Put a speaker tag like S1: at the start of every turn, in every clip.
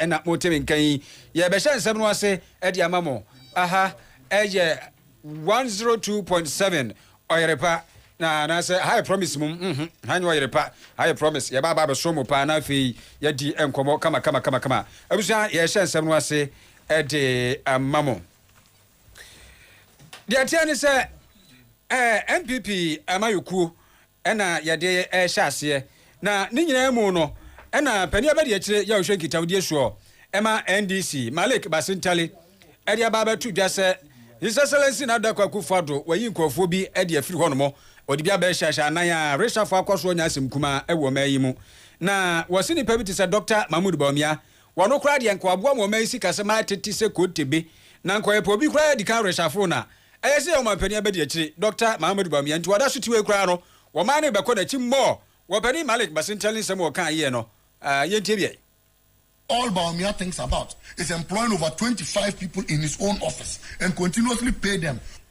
S1: na mote me nka yi, yɛrebɛhyɛ nsɛm no ase de ama mo. Aha yɛ one zero two point seven Ɔyerepa na anaasɛ ha yɛ promise mum mm hmm ha nyɛ Ɔyerepa ha yɛ promise yɛba aba abɛsom mo paa na afei yɛadi nkɔmmɔ kama kama kama kama abusua yɛrehyɛ nsɛm no ase de ama mo. Deɛ ɛteɛ ne sɛ ɛɛ NPP amanyɔkuo na yɛde rehyɛ aseɛ, na ne nyinaa mu no na panin abadiakyire yawhwɛ nkitawdie soɔ ma NDC, Malik Basintali de aba abɛto dwa sɛ His Excellency Nana Dankwa Akufo-Addo wayi nkurɔfoɔ bi de afiri hɔnom, ɔde bi aba ahyia hyɛ anan a reshuffle akɔ so anya asɛm kumaa wɔ ɔman yi mu, na wɔse nnipa bi te sɛ Dɔkta Mahmood Bawumia Wɔ no koraa deɛ nka waboa mo ɔman sikasɛm ara tete sɛ kotebe, na nka ɔyɛ pɛ obi koraa adi kan reshaforo no a, ɛyɛ sɛ yɛn ɔmanpanin abɛdi akyire, Dɔkta Mahamadou Bawumia, nti wada so te wei koraa no, ɔman no rebɛkɔ n'akyi mmɔɔ, wɔ Panin Malik Basintali nsɛm a ɔkaa yeɛ no, ah, yɛntie bi ɛ. All
S2: Bawumia thinks about is employing over twenty five people in his own office and continuously pay them.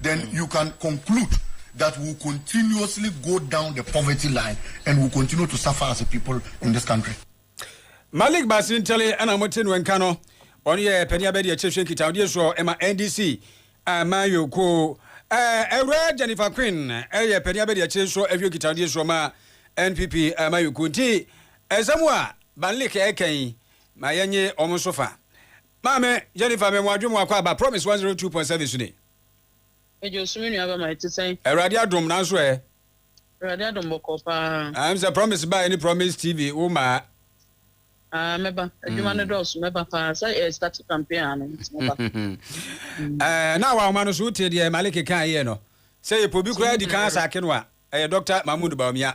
S2: Then you can conclude that we will continuously go down the poverty line and will continue to suffer as a people in this country. Malik
S1: Basin Tele ɛna mo te no nka no ɔno yɛ panyin abɛde ɛkyɛ hwɛ nkitahodie soɔ ɛma NDC amayɔ ko ɛwura Jennifer Queen ɛyɛ panyin abɛde ɛkyɛ nso ɛhwɛ nkitahodie soɔ ma NPP amayɔ ko nti ɛsɛm a Banlik ɛkɛn ma yɛnye wɔn nso fa. Maame Jennifer me moadwe mo akɔ aba promise one zero two point seven so ni. Agya
S3: Osu me nua bɛma ɛte sɛn? Awurade adom nanso ɛ.
S1: Awurade
S3: adom bɔkɔɔ paa. Ah ɛm sɛ promise baɛ
S1: ne promise TV wo maa. Ah
S3: mɛba adwuma no dɔɔso mɛba paa sɛ ɛ start campaign aa no nti mɛba. Ɛɛ
S1: na awahoma no so wo tee deɛ Maliki kaa yɛ no sɛ yɛ pɛ obi koraa di kan asaake no a ɛyɛ Doctor Mahmood Bawumia.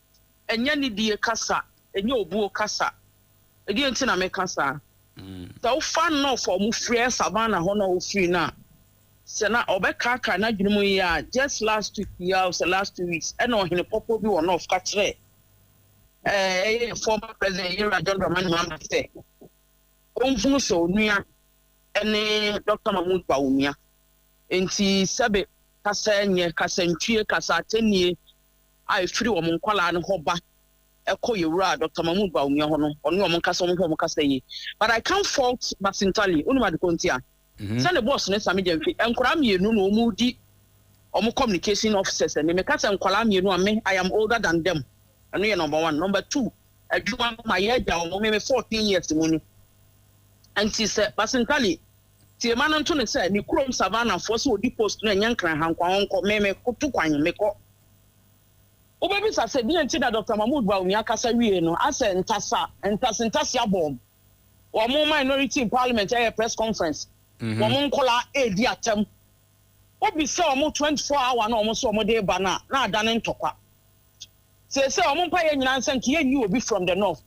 S3: ɛnyɛ nidie kasa, ɛnyɛ obuo kasa. Ɛdeɛ nti na meka saa? Sɛ wofa North a wɔfrɛ Savannah hɔ no a ɔfiri no a, sɛ na ɔbɛkaakae n'adwene mu yie a, just last week yi ara o, sɛ last two weeks, ɛna ɔhene pɔpɔ bi wɔ North ka kyerɛɛ ɛɛ ɛyɛ yɛ former president Yera John Dramani Mahama sɛ ɔnhunu sɛ onua ɛne Dr. Mahmoud Bawumia. Nti sɛbe kasa nyɛ, kasantwie, kasa atennie, a ɛfiri wɔn nkwadaa no hɔ ba kɔ yɛwura Dɔkta Mahmood Bawumia hɔ no, ɔne wɔn nkasa, wɔn ho wɔn kasa yie. But I can't fault Basintali, wonim ade kɔ nti a, mhm. sɛ ne boss ne Sami Gyamfi, nkwadaa mmienu na wɔn di wɔn communication officers ɛne meka sɛ nkwadaa mmienu a me, I am older than them, ɛno yɛ number one. Number two, adwuma no ma yɛ agya wɔn, me me fourteen years mu ni. Nti sɛ Basintali, tiema no nto ne sɛ ne kurom savanafoɔ sɛ ɔdi post no ɛnyɛ nkran hankwa wɔnkɔ, me me koto kwan mekɔ. Wobɛbisa sɛ, deɛn nti na Dɔkta Mahmoud Bawumia kasa wiee no asɛ ntasa ntase ntase abɔm? Wɔn minority in parliament ɛyɛ press conference, wɔn nkwadaa ɛredi atɛm. Wobisa wɔn 24 hour no a wɔn sɛ wɔn de reba no a, na adane ntɔkwa. Seesei wɔn mpaeɛ nyinaa nsɛ nka yɛnyi obi from the north.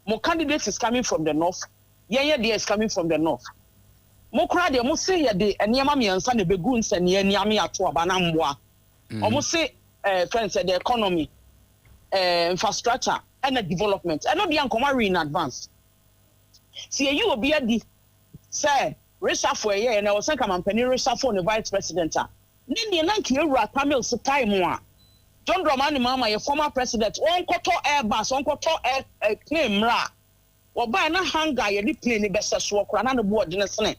S3: Mo candidate is coming from the north, yɛn yɛ deɛ is coming from the north. Mo koraa deɛ mo se yɛde nneɛma mmiɛnsa na ɛbɛgu nsɛnniiɛ, nniame, ato aba na mmoa. wɔn mm. se ɛɛ eh, fɛn sɛ the economy ɛɛ eh, infrastructure ɛna development ɛno deɛ nkɔmɔ awi in advance si eyi obi adi sɛ resafo ɛyɛ yɛ na ɛwɔ sɛ kamampanin resafo ne vice president a ne deɛ na nka ewura tamil se tae mu a john dramani mahama yɛ former president wɔn kɔtɔ airbus wɔn kɔtɔ air ɛɛ eh, plane mmerɛ a. Wɔbaeɛ na hanger a yɛde plane no bɛsɛ soɔ koraa na ne bo ɔdene sene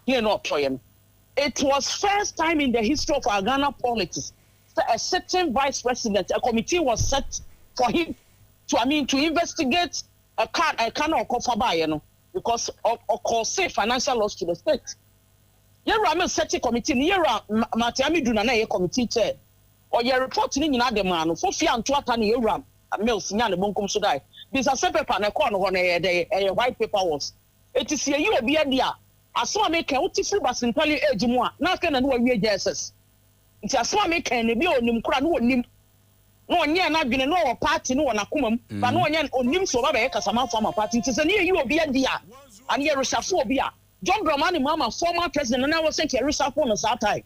S3: plane no a ɔtɔeɛ no. It was first time in the history of our Ghana politics sɛ a sitting vice president, a committee was set for him to I mean to investigate a car a car no a ɔkɔfa baeɛ no because ɔ cause financial loss to the state. Yɛwura me sɛte committee no, yɛwura Martin Amidu na na ɛyɛ committee chair. Ɔyɛɛ report no nyinaa de maa no. Fofi anto ata ne Ewuram Mills nyaa ne bonkum so dae. Binsase paper na ɛkɔɔ no hɔ na ɛyɛɛ dɛn? Ɛyɛ white paper was. Enti sɛ yɛyi obi adi a, asɛm a meka yi, wote firi Basenpali age mu a, na afei na ne wawie jss. Nti asɛm a meka yi no, ebia ɔnim koraa na ɔnnim. Na ɔnyɛɛ n'adwene, na ɔwɔ party no wɔ n'akoma mu, but na ɔnyɛ, ɔnnim sɛ ɔba bɛyɛ kasamanfoɔ ama party. Nti sɛ ne yɛyi obi adi a, and yɛ reshuffle obi a, John Dramani Mahama, former president, na na wɔ sɛ nka yɛ reshuffle no saa time.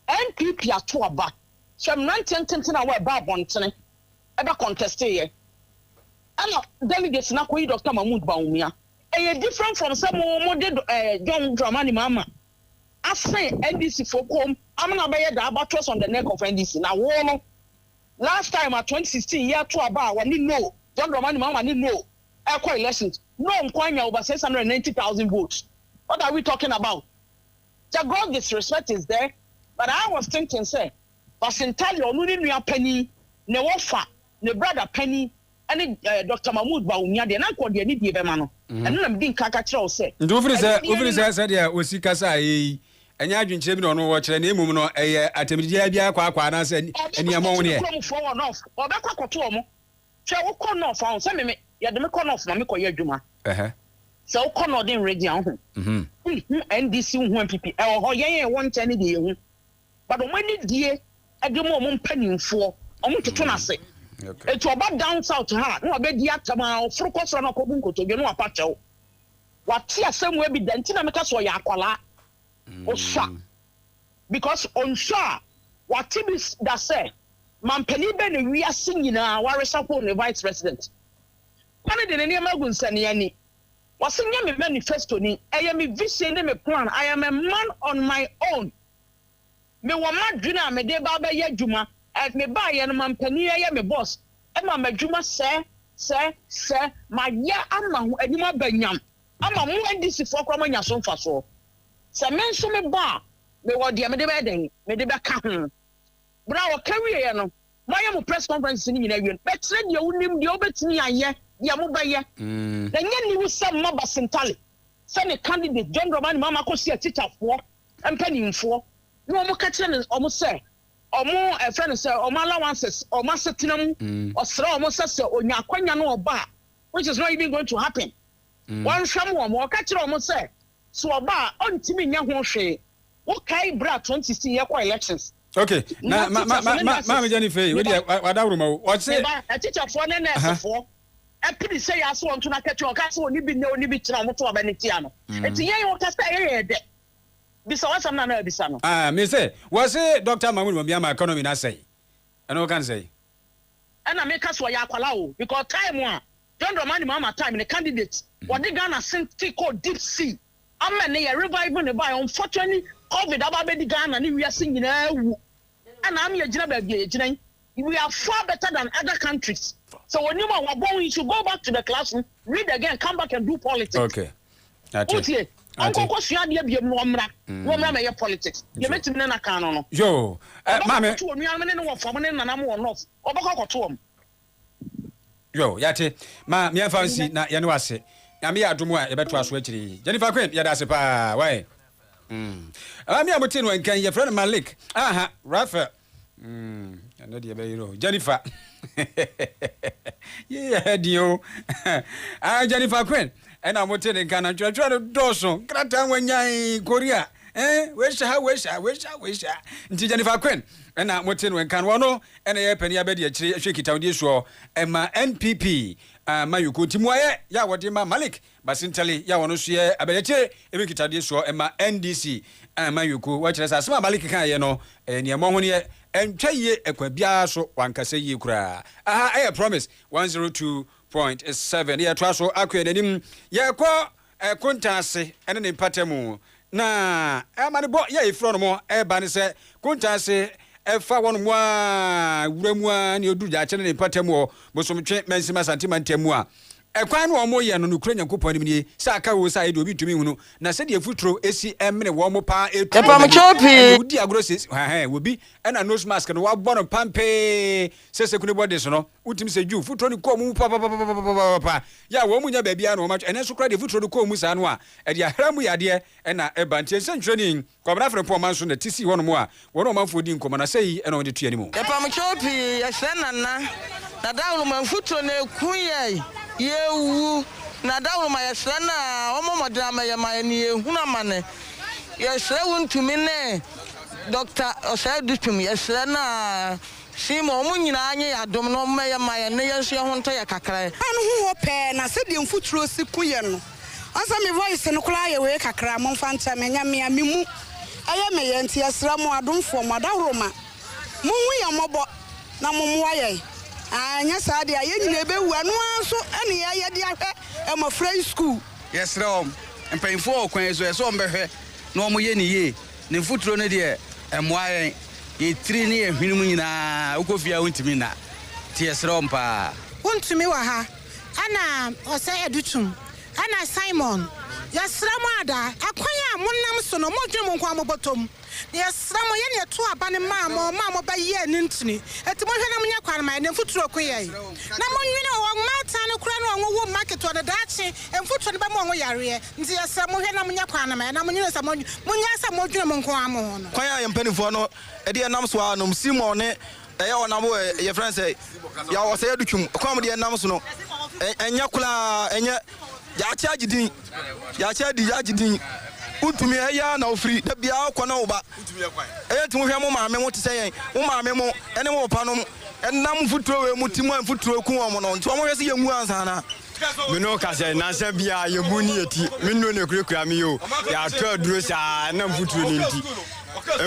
S3: NPP ato aba sɛ mmeranteɛ ntentenee a wɔɛba abɔntene ɛbɛ conteste yɛ ɛna delegates no akɔyi Doctor Mahmood Bawumia. Ɛyɛ different from sɛ mo mo de eh, John Dramani Mahama asen NDC foɔ kɔm ama no abɛyɛ the albatross on the neck of NDC. Na wo no last time a 2016 yɛ ato aba a wɔne no John Dramani Mahama ne no ɛkɔ elections no nko anya over 690,000 votes. What are we talking about? Sɛ Gorgis respect is there but I was thinking sɛ Basentalia ɔno ne nua panin ne wɔfa ne brada panin ɛne ɛɛ Doctor Mahmood Bawumia deɛ na nka ɔde anidie bɛma no ɛno na medi nkan ka kyerɛ wo sɛ Nti wofiri sɛ anidie wofiri ne sɛ
S1: na sɛdeɛ osi kasa a ɛyɛ yi ɛnyɛ adwenkyerɛ bi na ɔno wɔ kyerɛ na mmom no ɛyɛ atɛmdidiaa bi ara kwaakwa anaasɛ ani ɔbɛkɔ aniammɔn akɔkyere neɛ? kuromfoɔ wɔn off ɔbɛkɔ
S3: akɔto wɔn. Hwɛ wo kɔ nɔf a, sɛ meme yɛde me kɔ nɔf ma me kɔ yɛ adwuma. Sɛ wo kɔ nɔden regye a, wo ho. Wo hu NDC, wo hu NPP, ɛwɔ hɔ, yɛn a yɛwɔ nkyɛn ne deɛ yɛ hu. But ɔmo ani die ɛde mo ɔmo mpaninfoɔ, ɔmo toto no ase. Ɛti ɔba down south ha a, ne wa bɛ di atam a, ɔforo kɔ soro a ne wa kɔ bu nkotodwe, ne wa pa kyɛw. Wa te asɛm wɔ bi da, nti na me ka sɛ ɔyɛ akwalaa. Ɔsua. because ɔnhwɛ a wate bi da sɛ manpanin bɛn na wiase nyinaa waresahwon ne vice president pa no de ne nneɛma agu nsaniani wɔse nyɛ me manifesto ni ɛyɛ me vision ne me plan I am a man on my own mewɔ m'adwene a mede ba bɛyɛ adwuma mebaayɛ no manpanin ɛyɛ me boss ɛma m'adwuma sɛ sɛ sɛ mayɛ ama ho anim aba nyam Ama mo NDC foɔ koraa moanya so mfasoɔ. Sɛ me nso me ba a, me wɔ deɛ me de bɛyɛ dɛn? Me de bɛka ho. Berɛ a ɔka wieɛ no, moayɛ mo press conferences no nyinaa awie no, bɛkyerɛ deɛ wonim, deɛ wobɛtumi ayɛ, deɛ mobɛyɛ. Na ɛnyɛ aniwu sɛ mma Basintale sɛ ne candidate John Dramani Mahama kɔsi akyitafoɔ mpanimfoɔ na wɔn ka kyerɛ no wɔn sɛ wɔn ɛfrɛ no sɛ wɔn allowances, wɔn asetena mu, ɔsrɛ wɔn sɛ sɛ ɔnya akwanya no ɔba a, which is not even going to happen. wɔnhwɛm wɔn. Ɔka kyerɛɛ wɔn sɛ sɛ ɔba a ɔntumi nyɛ ho hwee. Wokae bere a Twenty si yɛkɔ elections? Okay, na
S1: ma ma ma ma maame Jennifer yi, wodi wadaworo ma wo. Ɔse. Meba, atikyafoɔ ne
S3: nɛɛsefoɔ apini sɛ yɛ ase wɔn to n'akatua. Ɔka sɛ ɔne bi nnɛ, ɔne bi kyena, wɔn to aba no tia no. Eti yɛn ɔka sɛ ɛyɛ yɛn dɛ. Bisa w'asɛm na na abisa no. Ah, me sɛ, wɔse
S1: Doctor Mahmoud Bawumia ma economy no asɛe. Ɛno woka no sɛn? Ɛna
S3: meka sɛ ɔyɛ akwalaa o, because time a John Dramani Mahama time no candidate wɔde Ghana sente kɔɔ deep sea ama ne yɛ revive ne bae unfortunately covid aba abɛdi Ghana ne wiase nyinaa awu ɛna ama yɛgyina baabi a yɛgyina yi we are far better than other countries sɛ wɔnim a wɔabɔ ho you should go back to the classroom read again come back and do politics okay
S1: ate wotie
S3: ɔnkɔkɔ sua adeɛ biam no ɔmmra mm. wɔmmra mɛyɛ politics yɛbɛtumi ne naka no no yo eh,
S1: maame ɔbɛkɔto onuanom ne ne wɔfam
S3: ne nanam wɔ north ɔbɛkɔ akɔto wɔm
S1: Yo, yɛate. Ma meɛmfa nsi na yɛne wo ase. Nyame yɛ adom a yɛbɛtoa so akyire yi. Jennifer Quinn, yɛda ase paa. Wai. Mm. Maame a motee no ankan, yɛfrɛ no Malik. Aha, Raphael. Mm. Ɛnɛ deɛ ɛbɛyere o. Jennifer. Yei ɛha din o. Ah, Jennifer Quinn. Ɛna motee no nka no, ntwerɛtwerɛ no dɔɔso. Nkrataa nwanyan, Korea. Eh, wei hyɛ ha, wei hyɛ ha, wei hyɛ ha, wei hyɛ ha. Nti Jennifer Quinn, ɛna motee no nka no, ɔno Ɛna yɛ panin abɛdi akyire ɛhwɛ nkitahodie soɔ ɛma NPP amanyɔkuo nti muayɛ yɛ a wɔde ma Malik Basintali yɛ a ɔno nso yɛ abɛdi akyire ɛhwɛ nkitahodie soɔ ɛma NDC amanyɔkuo wɔ kyerɛ sɛ asɛm a Malik kaeɛ no ɛyɛ neɛ ɛmɔ honeɛ ɛntwa yie ɛkwan biara so wankasa yie koraa aha ɛyɛ promise 102.7 na yɛtoa so akɔ yɛn anim yɛkɔ Kontan ase ne ne mpatamu. Na amanebɔ yi a efi hɔnom reba ne sɛ, kontan ase fa hɔnom a wura mu a ne oduru daakye ne ne mpatamu wɔ Bosomtwe mansin mu Asante mantam mu a, kwan no a wɔyɛ no nokorɛ Nyankopɔn anim nie, sɛ aka oo sɛ ayɛ deɛ obi ntumi nhunu, na sɛdeɛ mfuturo si mene wɔn paa tu wɔn ani, ɛnneɛ wodi agorɔ siesie, hɛhɛ, obi na nose mask no wabɔ no pampee sɛ sekunibɔ de so no. Wotumi sɛ Jew fotorɔ no kɔɔ mu papapapapapapapapapaapa, yɛ a wɔn mu nnya baabiara na wɔn atwe, ɛnɛ nso koraa deɛ fotorɔ no kɔɔ mu saa no a, ɛde ahra mu yadeɛ na ɛba. Nti nsɛnkyerɛ ni, Kwabena Frimpong ɔman so na ɛte sii hɔnom a wɔne ɔmanfoɔ di nkɔmmɔ, na sɛi na wɔde to anim. Yɛpam kyɛw pii,
S4: yɛsrɛ Nana, na daworo ma mfuturo na ɛku yɛn, yɛrewu, na daworo ma yɛsrɛ no a ɔmmɔ mmɔden ama yɛn ma yɛne yɛhunu amane. Yɛsrɛ wo ntumi ne Doctor Osei Dutum, yɛsrɛ no a Hwee ma wɔn nyinaa nye yɛn adom na wɔmmɛyɛ mma yɛn na yɛn nso yɛn ho ntɔ yɛn kakra. Ɔbaa no ho hɔ pɛɛ na sɛdeɛ mfuturo si ku yɛn no ɔsɛ me voice no koraa yɛ wee kakra momfa nkyɛ me ɛnyɛ mea me mu ɛyɛ me yɛ nti yɛsrɛ mo adomfoɔ mo adahoro ma monhu yɛn mmɔbɔ na mo mmoa yɛn aah ɛnyɛ saa deɛ a yɛn nyinaa ɛbɛwu ɛno ara nso ne yɛyɛ de ahwɛ mmɔfra yi school. Yɛsrɛ wɔn,
S5: mpanyinfoɔ wɔ kwan yi so ɛsɛ wɔn bɛhwɛ na wɔn yɛ no yie. Ne mfuturo no deɛ ɛmmoa yɛn. Yɛn tiri ne yɛn hwene mu nyinaa wokɔ fie a wontumi nna nti yɛsrɛ wɔn paa. Wontumi wɔ ha
S4: ɛna ɔsɛ adu tum ɛna Simon yɛsrɛ mo ada ɛkwan a monam so no modwen mo nko ara mobɔtɔ mu na yɛsrɛ mo yɛne yɛto aba no maa mo ma mobɛ yɛɛ no ntini ɛti monhwɛ na monyɛ kwan ma yɛn ne mfuturo ko yɛn na monwene ɔwɔ mmaatan no koraa ne ɔnwo wo mma ketewa no daakye mfuturo no bɛma ɔnwo yareɛ Nti yɛsrɛ mo hwɛ na monyɛ kwan no ma yɛn na monnwene sɛ monnyae sɛ modwene mo nko ara mo ho no. Kwan a yɛn mpanimfoɔ no
S5: deɛ nam so ara nom Simon ne ɛyɛ ɔnam wɔ yɛfrɛ no sɛ yɛn ɔsɛe adutwam kwan mu deɛ nam so no ɛnyɛ koraa ɛnyɛ yɛakyɛ agye din yɛakyɛ adi yɛagye din wontumi ɛyɛ ara na wofiri da biara wokɔ na woba ɛyɛ nti wohwɛ mo maame mo te sɛ yɛn mo maame mo ɛne mo papa nom ɛnam mfuturo wei mu ti mu a mfuturo ku wɔn no nti wɔn hwɛ sɛ yɛn mu ansa na Me ne wo ka sɛ
S6: nnansa biara yɛbu ne yɛ ti. Me nnuro na ɛkurakura me yi o. Yɛatɔ aduro saa na mfuturo no nti.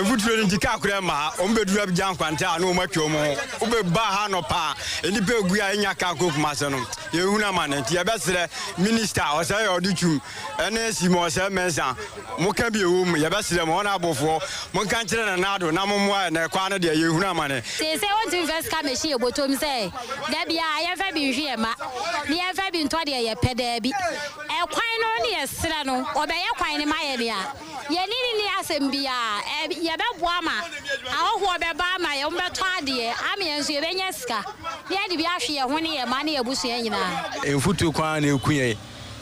S6: Mfuturo no nti kaa korɛ mmaa. Wɔn bɛduru Abidjan nkwanta a na wɔn atwa wɔn ho. Wobɛba ha nɔpa a nnipa ɛgu a ɛnya kaa kɔ Kumase no. Yɛhunu amane nti yɛbɛsrɛ minista ɔsɛ yɛ ɔde twum ɛne Simon ɔsɛ Mensah Moka bi a ɛwɔ mu, yɛbɛsrɛ mo, ɔne abofoɔ, monka nkyerɛ Nana Addo na mommoa yɛn, na ɛkɔ ara no deɛ, yɛrehunu amane. Seesei wontumi mfa sika
S7: mmɛhyɛ yɛn bɔtɔ mu sɛ, da biara yɛmfa bi nhwe yɛn mma, na yɛmfa bi ntɔ deɛ yɛpɛ, daabi. Ɛkwan no ne yɛsrɛ no, ɔbɛyɛ kwan no ma yɛn a, yɛne no nni asɛm biara. Ɛ, yɛbɛboa ama ahɔhoɔ bɛba ama yɛn, wɔbɛtɔ adeɛ ama yɛn nso, yɛbɛnya sika, na yɛde bi ahwe yɛn ho ne yɛn mma ne yɛn abusua nyinaa. Mfuturo kwan ara na
S5: ɛku yɛn.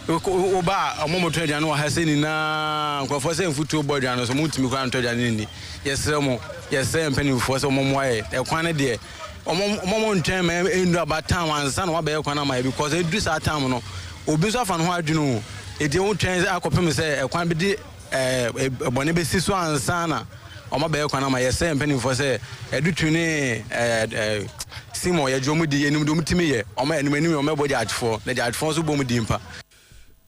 S5: woba a ɔmo motɔ aduane wɔ ha sɛ nyinaa nkurɔfoɔ sɛ mfutuo bɔ aduane so montumi koraa ntɔ aduane no nni yɛsrɛ mo yɛsrɛ mpanimfoɔ sɛ ɔmo mmoa yɛ ɛkwan no deɛ ɔmo ntwɛn ma ɛndu aba tam ansa na wabɛyɛ kwan ama yɛ because ɛdu saa tam no obi nso afa ne ho adwene o ɛti wotwɛn akɔpem sɛ ɛkwan bɛdi ɛbɔne bɛsi so ansa na wɔabɛyɛ kwan ama yɛsɛ mpanimfoɔ sɛ adutu ne sim ɔyɛ gye wɔn di yɛ nim de wɔn timi yɛ wɔn anim anim wɔn ɛbɔ gyaagyefoɔ na gyaagyefoɔ nso bɔ wɔn di mpa.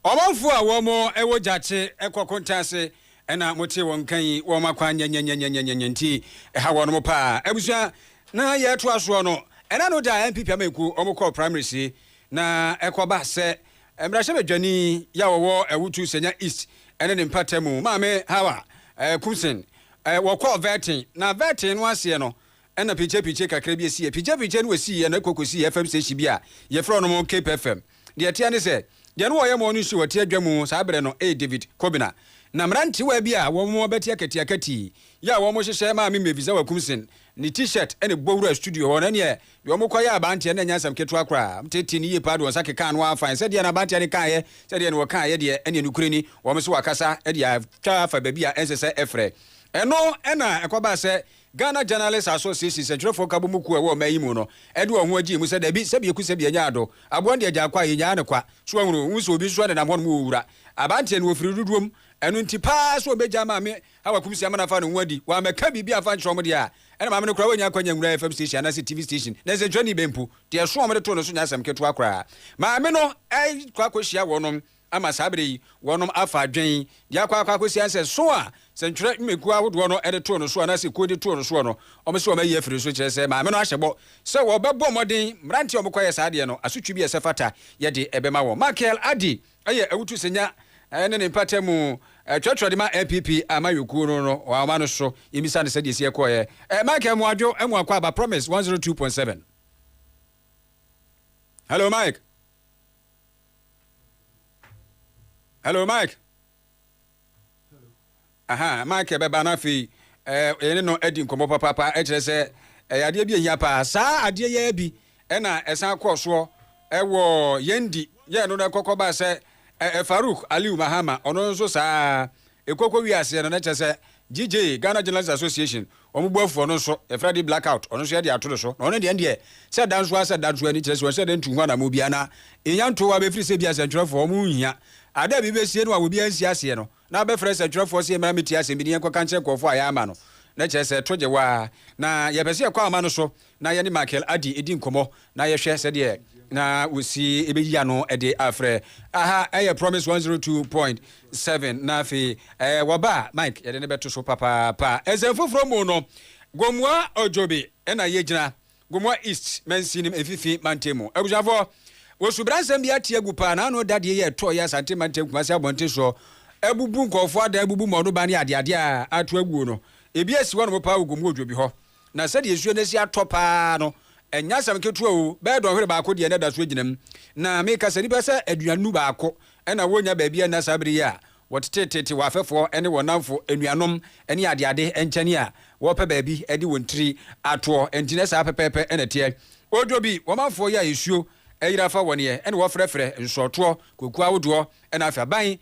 S5: Ɔmanfoɔ
S1: a wɔn ɛwɔ gyaakye ɛkɔ konta ase ɛna mo te wɔn nka yi wɔn akwan nyɛnyɛnyɛnyɛnyɛnyɛ nti ɛha wɔn mo paa abusua na yɛ ɛtoa soɔ no ɛna no da npp amanyɛkuo wɔn kɔɔ primaries yi na ɛkɔ ba sɛ Mmarahyɛbadwani yi a ɔwɔ Awutu Senya East ne ne mpata mu, Maame Hawa Kumsen, wɔkɔɔ Vɛɛten, na Vɛɛten no aseɛ no na pikyepikyee kakra bi siiɛ. Pikyepikyee no wɔsiiɛ no kɔkɔsii FM station bi a yɛfrɛ no Cape FM. Deɛ ɛteɛ ne sɛ, deɛ na ɔyɛ morning show wɔ Teadwa mu saa berɛ no yɛ David Kobina. Na mmerantewaa bi a wɔn abati akatiakati yi a wɔhyehyɛ Maame Mmevizawa Kumsen ne T-shirt na ɛbɔ wuraa studio hɔ, na ɛneɛ Deɛ wɔkɔyɛɛ abanteɛ no ɛnyɛ asɛm ketewa koraa. Wɔtetee no yie paa de wɔn nsa kekaa no ara faeɛ. Sɛdeɛ na abanteɛ no kaeɛ, sɛdeɛ na wɔkaeɛ deɛ, ɛnneɛ nokorɛ ni, wɔn nso wɔakasa de atwa afa baabi a ɛnsɛ sɛ ɛfrɛ. Ɛno na ɛkɔbaa sɛ Ghana Journalists Association, Nsɛntwerɛfoɔ Nkabom mu kuo a ɛwɔ ɔman yi mu no, de wɔn ho gyee mu sɛ, Dabi, sɛbi aku sɛbi anya ado. Aboa no deɛ agyaa kɔ a, yɛnnyaa no kwa. So woahunu? Wohu sɛ obi nso nenam hɔnom wɔ wura abanteɛ no wɔ firi dodoɔ mu. Ɛno nti paa sɛ wɔbɛgyaa maame a wɔakum Siamena afa no ho adi. Wammɛka biribi amfa ankyerɛ wɔn deɛ a, ɛnna maame no koraa wannya akwannya anwura FM station anaasɛ TV station, na nsɛntwerɛni bɛn mpo. Deɛ ɛso a wɔde too no so nyɛ asɛm ketewa koraa. Maame no rekɔ akɔhyia wɔnom ama saa berɛ yi, wɔnom afa adwene de akɔ akɔ akɔsia nsɛ so a sɛntwerɛ nnwumakuo ahodoɔ no de too no soɔ anaasɛ kuo de too no soɔ no, wɔn sɛ wɔayi afiri no so, kyerɛ sɛ maame no ahyɛ bɔ sɛ wɔbɛbɔ mmɔden mmeranteɛ a wɔkɔyɛ saa adeɛ no asotwe bi a ɛsɛ fata yɛde bɛma wɔn. Michael Addy. Ɛyɛ awutu sɛ nya ne ne mpata mu twerɛtwerɛ de ma NPP amayɔkuo no no wɔama no so yɛmmisa no sɛdeɛ ɛsi ɛkɔɔɛ. Michael Mmoadwo Amuakwah aba Promise 102.7. Hello Mike. Hello Mike. aha Michael bɛba na afei eh, yɛne no adi nkɔmmɔ papaapa kyerɛ sɛ ɛyɛ adeɛ bi ɛhia paa saa adeɛ yɛ bi ɛna ɛsan kɔɔ soɔ ɛwɔ yɛn di yɛn no no ɛkɔkɔ baa sɛ Farouk Aliu Mahama ɔno nso saa ɛkɔkɔ wi aseɛ no na kyerɛ sɛ GJ, Ghana Journalists Association, wɔn boafoɔ no nso, yɛfrɛ adeɛ blackout, ɔno nso yɛde ato no so, na ɔno deɛ ɛndeɛ, sɛ da nso ara sɛ da nso ara ni, kyerɛ sɛ wɔnhyɛ da ntu ho anammɔn biara na ɛnya nto hɔ ara, ɛfiri sɛ ebia sɛntwerɛfoɔ, wɔn nhia adeɛ a biribi bɛsie no a obiara nsi aseɛ no, na abɛfrɛ sɛntwerɛfoɔ sɛ yɛmmra mmɛtie asɛm bi na yɛnkɔka nkyerɛ nkurɔfoɔ a yɛama no, na kyerɛ sɛ ɛto gye wo ara, na yɛpɛ sɛ yɛkɔ ama no so, na yɛne Michael Addy redi nkɔmmɔ na yɛhwɛ sɛdeɛ na wɔsi bɛyi ano de afrɛ. Aha yɛ Promise 102.7 na afei wɔba a Mike yɛde no bɛto so papaapa. Nsɛm foforɔ mu no, Gomua Odjobi na yɛgyina, Gomua East mansinim mfifi mantam mu. Abusuafoɔ, wɔsubra nsɛm bi ate agu paa na ano da deɛ yɛ ɛtɔɔ yɛ Asante mantam Kumasi abɔnten soɔ abubu nkɔɔfoɔ adan abubu mmɔɔno ban ne adeadeɛ a ato aguo no. Ebi asi hɔ nom paa wɔ Gomua Odjobi hɔ. Na sɛdeɛ nsuo no asi atɔ pa ara no, ɛnyɛ asɛm ketewa o, bɛyɛ dɔnhwere baako deɛ na ɛda so gyina mu. Na meka sɛ nnipa sɛ aduanu baako na wɔnnya baabi nna saa berɛ yi a wɔteteetete wɔn afɛfoɔ ne wɔn nnamfo, anuanom ne adeade nkyɛne a wɔrepɛ baabi de wɔn tiri atoɔ. Enti na saa pɛpɛɛpɛ na ɛteɛ. Odwo bi, wɔmanfoɔ yɛ a nsuo ayiri afa wɔn ɛ na wɔfrɛfrɛ nsɔɔtoɔ, kokuo ahodoɔ na afei aban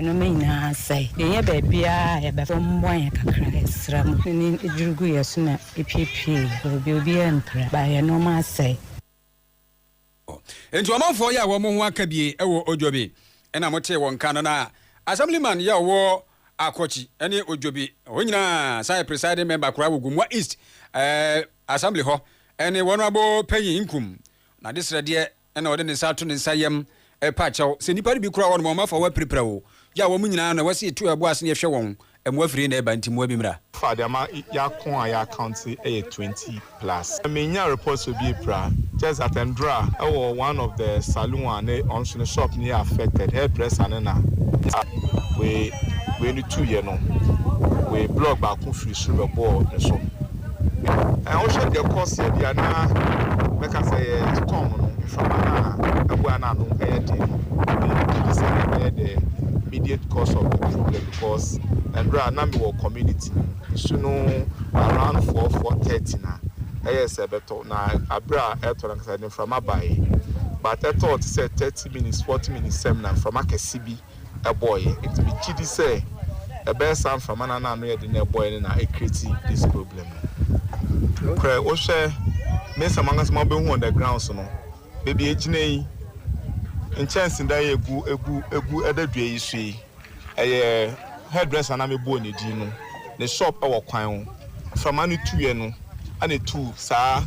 S8: nnoɔma nyinaa asɛe. Yɛnyɛ baabiara a yɛbɛkɔ mmoa yɛn kakra yɛsrɛ mo ne duru gu yɛn so na epiepie baabi obiara mpira baa yɛn nnoɔma asɛe.
S1: Enti ɔmanfoɔ yɛ a wɔn ho aka bie wɔ Odwobi na motee wɔn nka no na Assemblyman yɛ a ɔwɔ Akɔkyi ne Odwobi hɔ nyinaa san yɛ Presiding Member koraa wɔ Gomoa East Assembly hɔ ne Wɔnoabo Panyin Nkum no adesrɛdeɛ Ɛnna ɔde ne nsa ato ne nsa yam repa kyɛw. Sɛ nnipa no bi kura wɔnom a, wɔmfa wɔn apirapira o. Gya wɔn nyinaa na wɔasi etuo a ɛbɔ ase na yɛhwɛ wɔn. Mmoa firi he na ɛreba, nti mmoa bi mmra. Fa de ama
S9: yɛako a yɛacounte yɛ twenty plus. Mennya report sɛ obi apira, just that ndra wɔ one of the saloon a ne ɔno nso ne shop no yɛ affected, hairdresser no na nsa wei wei no tuiɛ no wei block baako firi soro bɛbɔɔ ne so. Ɛɛ wohwɛ deɛ ɛkɔ seɛ deɛ a na mɛka sɛ ɛyɛ storm no mframa no a abua no ano yɛ den no na ɛde didi saa na ɛbɛyɛ the immediate cause of the problem because mmerɛ a na mewɔ community no mu nsu no around four four thirty na ɛyɛ sɛ ɛbɛtɔ na abere a ɛtɔ no ankasa ɛde mframa baeɛ but ɛtɔɔ te sɛ thirty minutes forty minutes sɛm na mframa kɛse bi ɛbɔeɛ. Nti megye di sɛ ɛbɛyɛ saa mframa no a na ano yɛ den na ɛbɔeɛ no na ɛcreate this problem no. Nokorɛ wohwɛ mesa mu ankasa ma wobɛhu on the grounds no, baabi a ɛgyina yi, nkyɛnsedan yi a ɛgu ɛgu ɛgu ɛda dua yi so yi, ɛyɛ hairdresser a na mebɔɔ ne din no ne shop ɛwɔ kwan ho. Mframa no tuiɛ no ɛna ɛtuu saa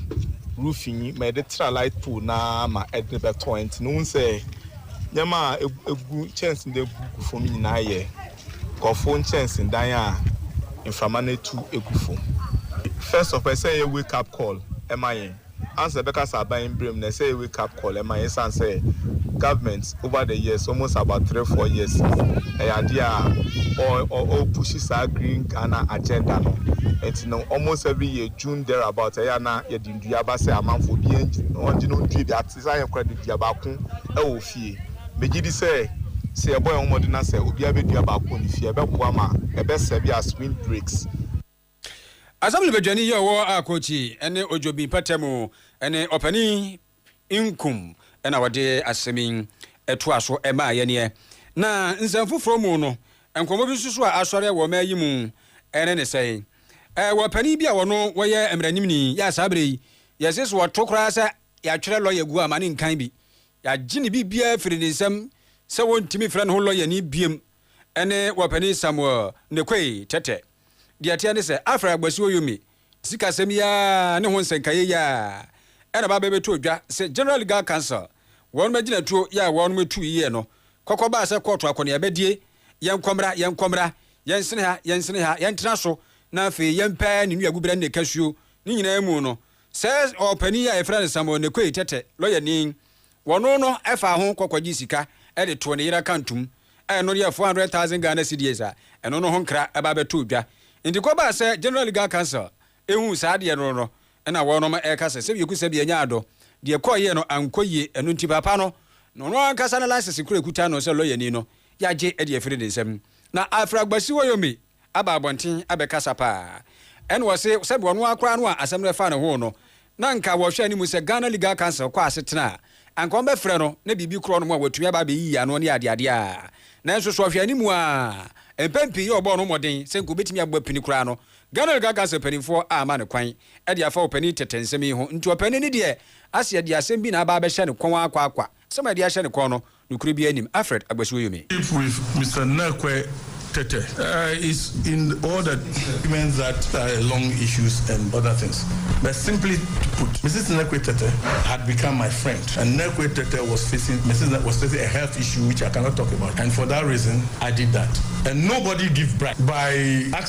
S9: roofing yi ma ɛde tra light pole no ara ma ɛde bɛtɔɔ. Nti no wohu sɛ. Nneɛma a egu nkyɛnsedan mu gu fam nyinaa yɛ nkurɔfo nkyɛnsedan a mframa no atu agu fam. First of all, ɛsɛ sɛ ɛyɛ wake up call ma yɛn. Ansa yɛbɛka sɛ aban mbrɛ mu no, ɛsɛ sɛ ɛyɛ wake up call ma yɛn esiane sɛ government over the years, almost about three, four years ni, ɛyɛ adeɛ a ɔrepushi saa Green Ghana agenda no. Nti no, almost every year June thereabout, ɛyɛ a na yɛde nnua ba sɛ amanfoɔ obiara ɔngye na ɔndua bi. Te sɛ ayɛkora de dua baako wɔ fie. Megye di sɛ, sɛ yɛbɔ yɛn ho mmɔden na sɛ obiara bedua baako wɔ ne fie a, ɛbɛboa ma ɛbɛsɛe bi as windbreaks.
S1: Asɛm no Badwani yi a ɔwɔ Akochi ne Ojobi mpɔtam mu ne Ɔpanin Nkum na wɔde asɛm yi toa so maa yɛn ɛ. Na nsɛm foforɔ mu no, nkɔmmɔ bi nso so a asɔre wɔ ɔman yi mu ne ne sɛn? Ɛwɔ panin bi a ɔno wɔyɛ mmaranimni yi a saa berɛ yi yɛse sɛ ɔto koraa sɛ Yɛatwerɛ lɔya gu ama no nkan bi. Yɛagye ne biribiara afiri ne nsam sɛ wɔntumi mfrɛ ne ho lɔyani biom, ɛne Wɔpanin Samuel Nekoi Tɛtɛ. Deɛ ɛteɛ ne sɛ, Alfred Agbasuo Yomi sikasɛm yi ara ne ho nsɛnkaeɛ yi ara na ɛba bɛbɛtoo dwa sɛ General Legal Council wɔnom agyinatuo yɛ a wɔnom tu yɛɛ no kɔkɔ baa sɛ kɔɔto akɔneabadie, yɛnkɔ mmra, yɛnkɔ mmra, yɛnsene ha, yɛnsene ha, yɛntena so na afei yɛmpɛ ne nuaguberɛ ne ne kasuo ne nyinaa mu no. Sɛ ɔpanin yi a yɛfrɛ no Samuel Nekoi Tɛtɛ, lɔyani, wɔno no faa ho kɔ kɔgyee sika de too ne yere akantom a ɛno yɛ four hundred thousand Ghana cedis a, ɛno no ho nkra ba bɛtoo dwa. Nti kɔbaa sɛ General Legal Council huu saa adeɛ no no na wɔnom reka sɛ sɛ yɛku sɛ bi ɛnyɛ adɔ, deɛ ɛkɔɔ yie no ankɔ yie, ɛno nti papa no na ɔno ankasa ne license kura ɛkuta no sɛ lɔyani no yɛagye de afiri ne nsam. Na Alfred Agbasi Woyombi, aba abɔnten abɛkasa paa. Ɛna ɔse sɛdeɛ ɔno ara koraa no a asɛm no ɛfa ne ho no, na anka wɔhwɛ anim sɛ Ghana Legal Council kɔ asetena a, anka wɔbɛfrɛ no na biribi korɔ no mu a watumi aba abɛyiyi ano ne adeadeɛ a. Nanso so ɔhwɛ anim ara, mpɛn pii yi a wɔbɔɔ no mmɔden sɛ anka wɔbɛtumi abɔ apini koraa no, Ghana Legal Council mpanimfoɔ amma no kwan de afa ɔpanin tɛtɛ nsɛm yi ho. Nti ɔpanin no deɛ ase ɛde asɛm bi na aba abɛhyɛ ne kɔn ara kwa kwa. Asɛm a ɛde ahyɛ ne kɔn no, Nokore biaa nnim Alfred Agbasuo Yomi. Keep with Mister
S10: Nɛkwɛ tɛtɛ. Is in all the documents that are long issues and other things but simply put Mrs Nɛkwɛ tɛtɛ had become my friend and Nɛkwɛ tɛtɛ was facing Mrs Nɛkwɛ was facing a health issue which I cannot talk about and for that reason I did that and nobody give bribe by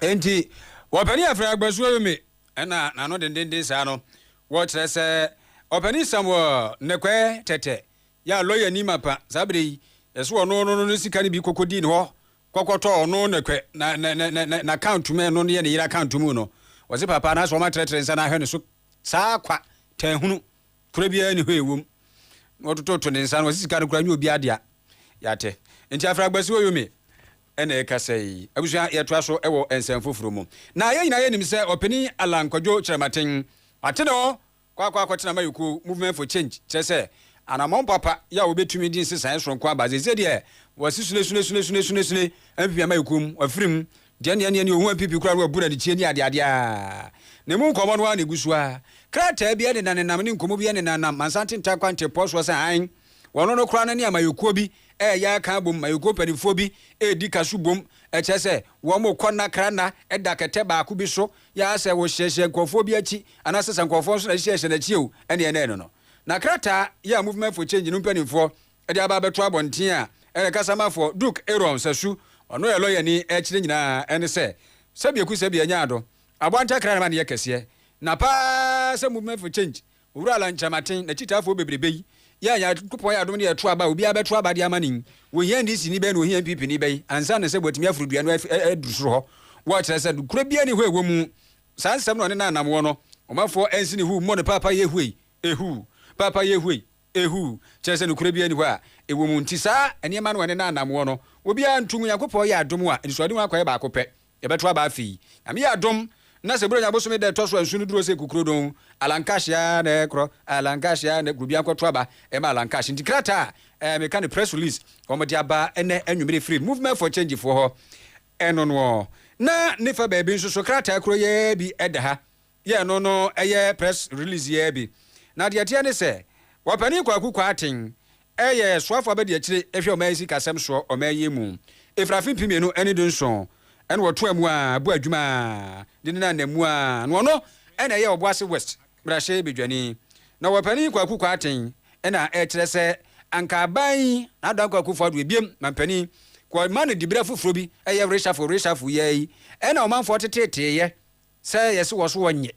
S1: Enti Ɔpanin Afrɛ Agbasuo yi me ɛna n'ano dendenden saa no, wɔkyerɛ sɛ Ɔpanin Samuel Nnɛkwɛ Tɛtɛ yɛ a lɔya ni mapa saa berɛ yi, yɛ sɛ ɔno no no sika no bi kɔkɔdii ne hɔ kɔkɔtɔɔ ɔno Nnɛkwɛ na na na na na account mu ɛno no yɛ ne yere account mu no, wɔse papa anaasɛ wɔn atrɛtrɛ nsa no ahwɛ ne so saa kwa tɛn hunu korɛ biara ni hɔ ɛwom na wɔtototo ne nsa no wɔse sika no koraa nyɛ obiara dea, yate nti Afrɛ Agbasuo yi me. na ɛrekasa yi. Abusua, yɛtoa so wɔ nsɛm foforo mu. Na yɛn nyinaa yɛnim sɛ Ɔpanin Allan Kwadwo Kyerɛmaten ate ne hɔ kɔ akɔ akɔtena Mayɔkuo, Movement for Change, kyerɛ sɛ, anammɔn papa yɛ a wɔbɛtumi de nsesaeɛ soronko aba. Seesei deɛ, wasi sunesunesunesunesunesune mfimfini Amayɔkuo mu, wafiri mu, deɛ nea nea nea ɔhu MPP koraa no wabu no adekyie ne adeadeɛ a ne mu nkɔmmɔ no ara na ɛgu so ara. Krataa bi nenanenam ne nkɔmmɔ bi nenanam Mansanten Tarkwa ntempɔn soɔ sɛ hann. Wɔno no koraa no ne amayɔkuo bi reyɛ aka abom, mayɔkuo mpaninfoɔ bi redi kaso bom, kyerɛ sɛ wɔkɔ nna kra nna da kɛtɛ baako bi so, yɛ a sɛ wɔhyɛhyɛ nkorɔfoɔ bi akyi anaasɛ sɛ nkorɔfoɔ nso na ɛhyɛhyɛ no akyi o, ɛne ɛnɛ ɛno no. Na krataa yi a Movement for Change no mpaninfoɔ de aba abɛto abɔnten a ɛne kasamafoɔ Duke Aaron Sasu, ɔno yɛ lɔyani, ɛkyerɛ nyinaa ɛne sɛ, sɛbi ɛku sɛbi ɛnyɛ ado, aboa ntakra na ɛma no yɛ kɛseɛ, na paa sɛ Movement for Change Owura Alan Kyerematen, n'akyitaafo bebrebe yi yɛɛ Nyankopɔn yɛ adom de yɛɛ to aba a obiara bɛto aba de ama no yi. Wɔhia NDC ni bɛn na wɔhia NPP ni bɛn ansa na sɛ wɔatumi aforo dua no aduru soro hɔ? Wɔkyerɛ sɛ nokorɛ biara nni hɔ a ɛwɔ mu. Saa nsɛm no na ɔne n'anammoɔ no, ɔmanfoɔ ɛnsi ne huu mmɔ no paapayee huei, ehuu, paapayee huei, ehuu, kyerɛ sɛ nokorɛ biara nni hɔ a ɛwɔ mu. Nti saa nneɛma no ɔne n'anammoɔ no, obiara nto ngu. Nyankopɔn yɛ adom a anisoadehu akɔyɛ baako pɛ. Yɛbɛto aba afei. Nyame yɛ adom na sɛ Buronya bosome da ɛtɔ so ansu no duru ose Kukrodon, Alankash ya na ɛkorɔ, Alankash ya na ɛkorɔ, obiara nkɔto aba ɛma Alankash. Nti krataa a ɛɛ meka no press release wɔn de aba ɛnɛ anwumere firi Movement for Change foɔ hɔ, ɛno noɔ. Na ne fa baabi nso so krataa koro yi ara bi ɛda ha. yɛ ɛno no yɛ press release yi ara bi. Na deɛ ɛteɛ ne sɛ, Ɔpanin Kwaku Kwarteng yɛ soafoɔ abadiakyire hwɛ ɔman yi sikasɛm soɔ ɔman yi mu. Ɛfiri afe mpem mmienu ne du nson na ɔtoaa mu ara bɔɔ adwuma de nenam nna mu ara na ɔno na ɛyɛ Ɔboase West mmarahyɛ badwani. Na Ɔpanin Kwaku Kwarteng na ɛkyerɛ sɛ anka aban yi na Adan Kwaku Foah Duah biam manpanin kɔ ma no diberɛ foforɔ bi yɛ reshuffle reshuffle yi ara yi na ɔmanfoɔ teteeteeɛ Sɛ yɛse wɔ soɔ nyɛ,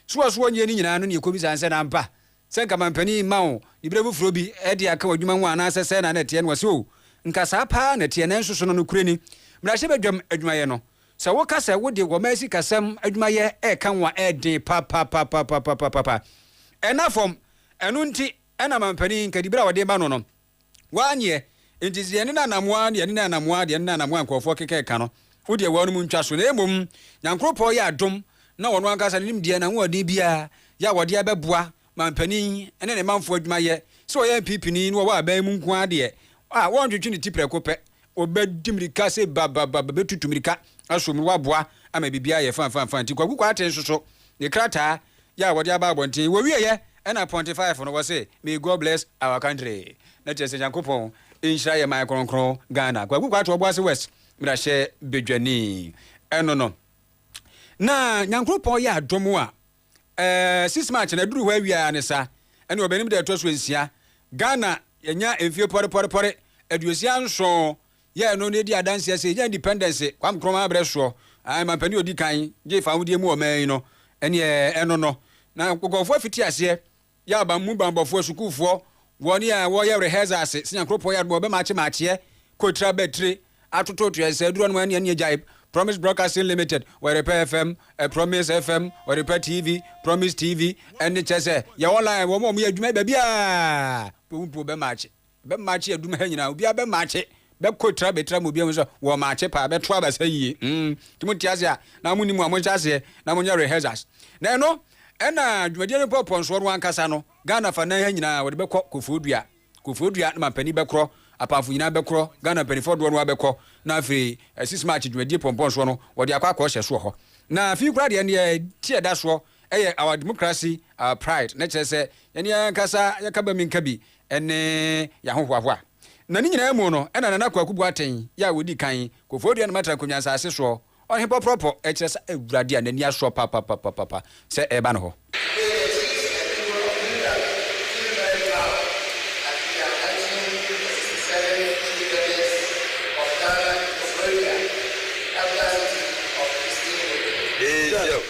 S1: so wɔ soɔ nyɛ no nyinaa no na yɛkɔbisa no sɛ, na ampa sɛ nka mampanin mma wo ne berɛ foforɔ bi de aka w'adwuma ho anaasɛ sɛn na na ɛteɛ no ɔse oo, nka saa paa na ɛteɛ nanso so no nokorɛ ni mmarahyɛbadwam adwumayɛ no sɛ woka sɛ wode wɔmaa sikasɛm adwumayɛ reka ho a ɛden papapapapapapapa ɛna fam ɛno nti na mampanin nka diberɛ a wɔde ma no no Waa neɛ nti sɛ yɛne no anamoa a yɛne no anamoa deɛ yɛne no anamoa a nkurɔfoɔ keka ka no wo deɛ wɔnom ntwa so na mmom Nyankoropɔn yɛ adom na ɔno ankasa no nim deɛ n'ahoɔden biara yɛ a wɔde abɛboa mampanin ne ne manfoɔ adwuma yɛ sɛ ɔyɛ MPPni na ɔwɔ aban mu nko ara deɛ a wɔntwetwe ne ti prɛko pɛ Wɔbɛdi mmirika se ba ba ba ba bɛtutu mmirika aso mu na wɔaboa ama biribiara ayɛ fã fã fã nti Kwaku Kwarteng nso so ne krataa yɛ a wɔde aba abɔnten wɔwieɛ ɛna Ponte Five no wɔse May God bless our country na kyerɛ sɛ Nyankopɔn nhyira yɛ man kronkron Ghana Kwaku Kwarteng Ɔboase West mmarahyɛ badwani ɛno no na Nyankopɔn yɛ adom a Ɛɛ six march na ɛduru hɔ awia ne sa ɛne ɔbɛnim da ɛtɔ so nsia Ghana yɛnya mfie pɔrepɔrepɔre aduosia nson yɛɛ no na ɛdi adanseɛ sɛ yɛnya independence Kwame Nkrumah abrɛ soɔ ae mampanin ɔdi kan gye fawodeɛ mu ɔman yi no ɛneɛ ɛno no na nkɔfoɔ fiti aseɛ Yɛ aban mu banbɔfoɔ asukuufoɔ, wɔn a wɔyɛ rehearsal ase, sɛ Nyankopɔn yɛ adom a, wɔbɛmakye makyeɛ, kotira batire, atototoɛ, nsɛɛ duro nom ɛne ɛne agyaeb, Promise Broadcasting Limited, Ɔyɛrepɛ FM, ɛ Promise FM, Ɔyɛrepɛ TV, Promise TV, ɛne kyɛ sɛ, yɛ online, wɔn a wɔyɛ adwuma yi baabiara, mpo wo mpo wɔbɛmakye. Bɛ maakye adum ha nyinaa. Obiara bɛ maakye bɛ kɔ tira bɛ tira mu. Obiara hu sɛ wɔ maakye paa. Bɛ to aba saa yie. Mm. Nti mo te ase a, na mo nim a mo nhyɛ aseɛ na mo nyɛ rehearsals. Na ɛno ɛna dwumadie no pɔ pɔnsoɔ no ankasa no. Ghana afanan ha nyinaa wɔde bɛ kɔ Kofo Dua. Kofo Dua na mampanin bɛ korɔ. Apamfo nyinaa bɛ korɔ. Ghana mpaninfoɔ doɔ no ara bɛ kɔ. Na afei eh, 6 March dwumadie pɔnpɔnsoɔ no wɔde akɔ akɔ hyɛ so wɔ hɔ. Na afei koraa deɛ ndeɛ ti ɛda soɔ. Ɛyɛ Our Democracy, Our Pride, na ɛkyerɛ sɛ yɛne yɛn ankasa yɛka ba mi nka bi ne yɛahohoahoa. Na ne nyinaa mu no na Nana Kwaku Boateng yɛ a ɔdi kan, Koforidua ne Matra Nkonwa nsase soɔ, ɔhe pɔpɔrɔpɔ, ɛkyerɛ sɛ Awurade a n'ani asoɔ papapapapa sɛ ɛreba ne hɔ.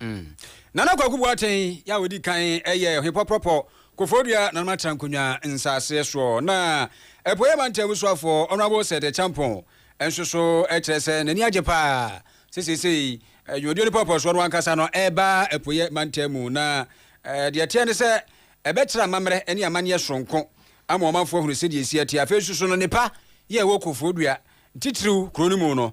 S11: Mm.
S1: Nana Kwaku Boateng yɛ a ɔdi kan yɛ Ɔhene Pɔprɔpɔ, Koforidua Nana Matra Nkonnwa nsaseɛ soɔ, na Apueeɛ Mantam Abusuafoɔ Honourable Sir De Champong nso so kyerɛ sɛ n'ani agye pa ara sɛ seesei dwumadie no pɔɔpɔɔsoɔ no ankasa no reba Apueeɛ Mantam mu, na deɛ ɛteɛ ne sɛ ɛbɛkyerɛ amammerɛ ne amanneɛ soronko ama ɔmanfoɔ ahunu sɛdeɛ ɛsi ateɛ. Afei nso so no, nnepa yɛ a ɛwɔ Koforidua, titiriw kuro no mu no,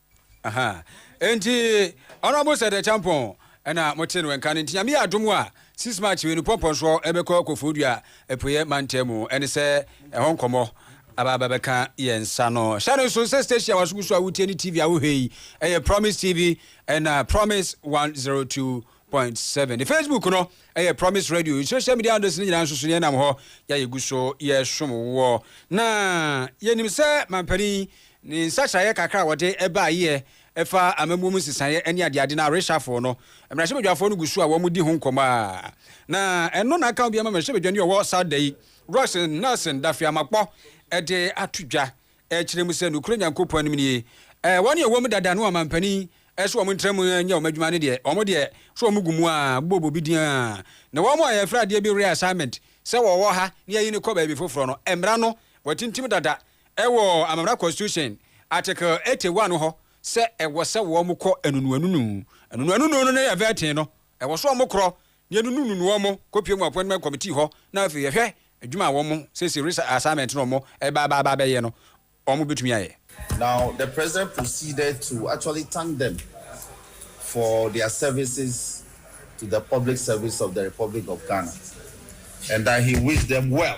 S1: Aha. Enti Honourable Sir Dɛkyɛ Ampɔn ɛna motee no nka no. Nti Nyame yɛ adom a, six March wei no Pɔmpɔ nso ɛbɛkɔ Kofoɔdua Apueɛ Mantam mu. Ɛne sɛ ɛhɔ nkɔmmɔ aba abɛbɛka yɛn nsa no. Hyɛ no nso sɛ station a waso gu so a wotie ne TV a wohwɛ yi ɛyɛ Promise TV ɛna Promise 102.9. Point seven. Ne Facebook no yɛ Promise Radio. Yɛn social media handles no nyinaa nso so no yɛnam hɔ yɛ a yɛgu so yɛsom woɔ. Na yɛnim sɛ mampanin ne nsakyeraeɛ kakra a wɔde baeɛ ɛfa amammuo mu nsesaeɛ ne adeade no a reshuffle no, mmarahyɛbadwafoɔ no gu so a wɔdi ho nkɔmmɔ a na ɛno na aka obiara ma mmarahyɛbadwani a ɔwɔ saa da yi, Royston Nelson Daffey-Amakpɔ de ato dwa ɛkyerɛ mu sɛ nokorɛ Nyankopɔn anim nie, ɛɛ, wɔn a wɔwɔ mu dada no wɔn mampanin sɛ wɔn ntra mu nyɛ wɔn adwuma no deɛ, wɔn deɛ, sɛ wɔn gu mu a, bobɔ bobi din ara, na wɔn a yɛfrɛ adeɛ bi reassignment sɛ wɔwɔ ha na yɛyi no kɔ baabi foforɔ no, mmara no, wɔatintim dada wɔ Amammerɛ Constitution, Article 81 hɔ sɛ ɛwɔ sɛ wɔkɔ anunu anunu, anunu anunu no ne vetting no, ɛwɔ sɛ wɔkorɔ Yɛnunununu wɔn kɔpue wɔn appointment committee hɔ na afei yɛhwɛ adwuma a wɔn sɛsi re assignment no a wɔn reba aba aba abɛyɛ no wɔn bɛtumi ayɛ. Now the president
S12: proceeded to actually thank them for their services to the public service of the Republic of Ghana and that he wished them well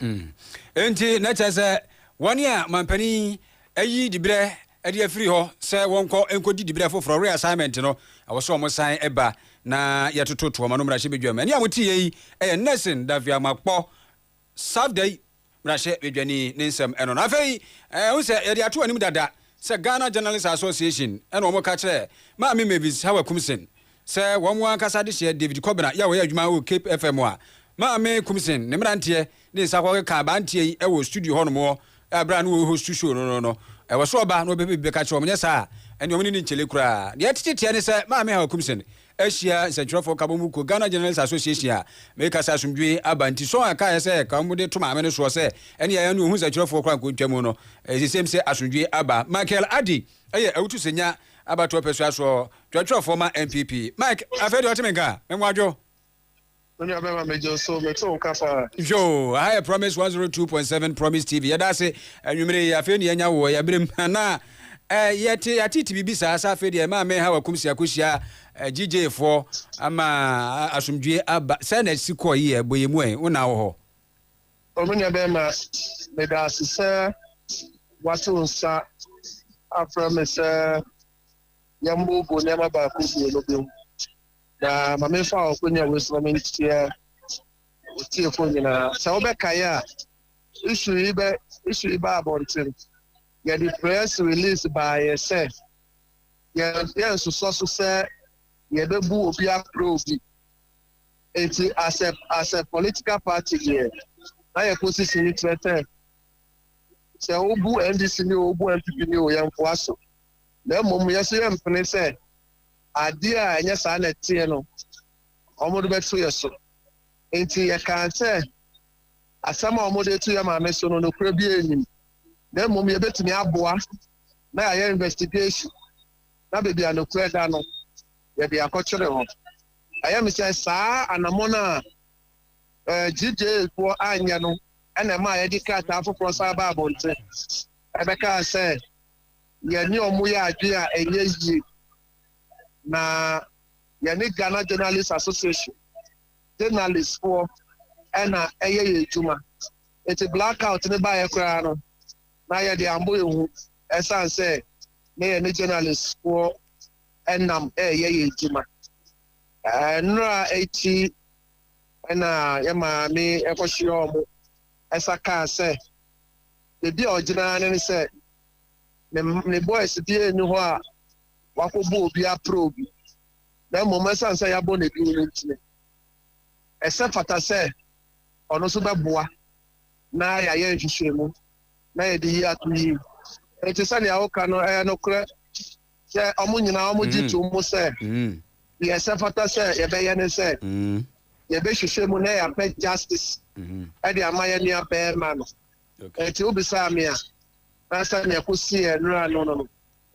S12: Mm. Enti, na
S1: kyerɛ sɛ wɔn a manpanin yi ayi dibrɛ de afiri hɔ sɛ wɔnkɔ nkɔdi dibrɛ foforɔ, reassignment, no, ɛwɔ sɛ wɔsan ba na yɛtoto toɔ ma no mmarahyɛbadwam. Ɛne a moteeɛ yi yɛ Nelson Daffy Amakpɔ, Safdei mmarahyɛbadwani, ne nsɛm no. Na afei, ɛho sɛ yɛde ato anim dada sɛ Ghana Journalists Association na wɔka kyerɛɛ Maame Mavis Hawa Kumsen Sɛ wɔn ankasa adehyeɛ David Kɔbena yɛ wɔyɛ adwuma wɔ Cape FM a, Maame Kumsen, ne mmeranteɛ, ne nsa kɔkeka aberanteɛ yi wɔ studio hɔnom wɔ berɛ a na wɔrehostu show no no no. Ɛwɔ soro ɔba na ɔbɛpɛ biribi bɛka akyerɛ wɔn, nyɛ saa a, ɛnneɛ wɔn ne no nkyele koraa. Deɛ ɛtete teɛ ne sɛ Maame Hawa Kumsen ahyia nsɛntwerɛfoɔ nkabom mu kuo, Ghana Journalists Association a meka sɛ asomdwoe aba nti, song a ɛkaeɛ sɛ ka wɔde to Maame no soɔ sɛ ɛnneɛ ɛno ɔhu nsɛntwerɛfoɔ koraa nkɔntwa mu no, ɛsɛ sɛ ɛsɛ mu sɛ asomdwoe aba. Michael Addy. Ɛyɛ awutu sɛ nya abatoɔ pɛ sua soɔ twerɛtwerɛfoɔ ma NPP. Mike, afei deɛ ɔte me nka a, me nwadwo. Me nua
S11: bɛma me gye wo so, me te wo nka paa. Nhwɛ o, aha yɛ
S1: Promise 102.7 Promise TV, yɛda ase anwumerɛ yi, afei ne yɛanya wo wɔ yɛaberem, na eh, yɛte yɛatete biribi saa, sɛ afei deɛ maa me ha wakumsi akohyia eh, GJ foɔ ama asomdwie aba, sɛ na ɛsi kɔɔ yi yɛ bɔ yɛ mu ɛ, wo na wɔ hɔ. O me
S11: nuabarima, meda ase sɛ woato nsa afrɛ me sɛ yɛmmooboo nneɛma baako mmienu bi ho. Na ma memfa w'akonnwa wei so na menteɛ wo tiefoɔ nyinaa. Sɛ wobɛkae a, issue yi bɛ issue yi baa abɔnten. Yɛde press release baeɛ sɛ yɛn yɛnsosɔ so sɛ yɛbɛbu obi aprɛ obi. Enti as a as a political party deɛ na yɛ position no kyerɛ sɛ sɛ wobu NDC ni o wobu NPP ni o yɛnfoa so na mmom yɛ so yɛmpene sɛ adeɛ a ɛnyɛ saa na ɛteɛ no wɔde bɛto yɛ so nti yɛkaa sɛ asɛm a wɔde to yɛ maame so no nokorɛ bi anim na mmom yɛbɛtumi aboa na yɛayɛ investigation na baabi a nokorɛ da no yɛde akɔkyere hɔ Ɛyɛ me sɛ saa anammɔn a gyidiefoɔ anyɛ no na ɛmaa yɛde krataa foforɔ san baa abɔnten bɛkaa sɛ yɛne wɔn yɛ adwene a ɛnyɛ yie, na yɛne Ghana Journalists Association journalistfoɔ na ɛyɛ yɛn adwuma. Enti blackout no baeɛ koraa no, na yɛde ambɔ yɛn hu ɛsiane sɛ na yɛne journalistfoɔ nam reyɛ yɛn adwuma. Nnora akyi na yɛn maame kɔhyeaa wɔn nsa kaa sɛ, baabi a ɔgyina ara ne sɛ ne, ne boys biara nni hɔ a wakɔbɔ obi apere obi, na mmom ɛsiane sɛ yɛabɔ no din no nti, ɛsɛ fata sɛ ɔno nso bɛboa na yɛayɛ nhwehwɛmu na yɛde yi ato yie. Enti sɛnea woka no ɛyɛ nokorɛ. sɛ wɔn nyinaa wɔgye tom sɛ deɛ ɛsɛ fata sɛ yɛbɛyɛ ne sɛ yɛbɛhwehwɛ mu na yɛapɛ justice de ama yɛn nua bɛrima no. Ɛti wobisaa me a, na sɛ nea ɛkɔsi yɛn nnura no no no.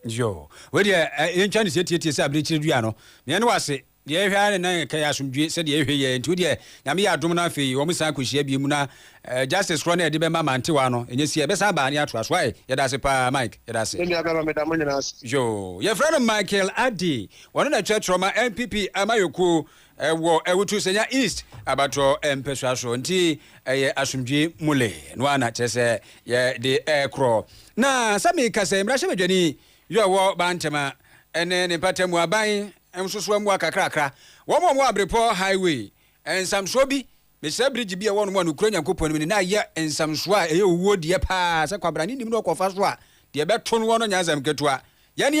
S1: Yo,
S11: wei
S1: deɛ yɛntwa no sɛ tietie sɛ abirekyiri dua
S11: no.
S1: Meyɛ ne wase. Deɛ yɛhwɛ ara ne na yɛka yɛ asomdwie sɛdeɛ yɛhwɛ yi ɛ, nti wo deɛ Nyame yɛ adom no afei wɔn san kɔ hyia biom na eh, justice korɔ no a yɛde bɛma Mantewaa no ɛnyɛ sie, ɛbɛsan aba ne atoa so ae, yɛda ase paa Mike, yɛda ase. Me nua bɛma meda mo nyinaa ase. Yoo. Yɛfrɛ no Michael Addy. Ɔno na ɛkyerɛ trɔma NPP amayɔkuo wɔ Awutu Senya East abatoɔ mpɛsoa so. Nti ɛyɛ asomdwie mule no ara na kyerɛ sɛ yɛde ɛrekorɔ. Na sɛ mekasa yi, mmarahyɛbadwani yɛ ɔwɔ Bantama ne ne mpatamu aban Nsosoa mua kakrakra. Wɔn a wɔwɔ Abrepɔ Highway, nsamsoɔ bi, mesrɛ bridge bi a ɛwɔ nom a nokura Nyankopɔn nim no na yɛ nsamsoɔ a ɛyɛ owuo deɛ paa sɛ kwabrane nim na ɔkɔfa so a deɛ ɛbɛto noɔ no nyɛ asɛm ketewa. Yɛne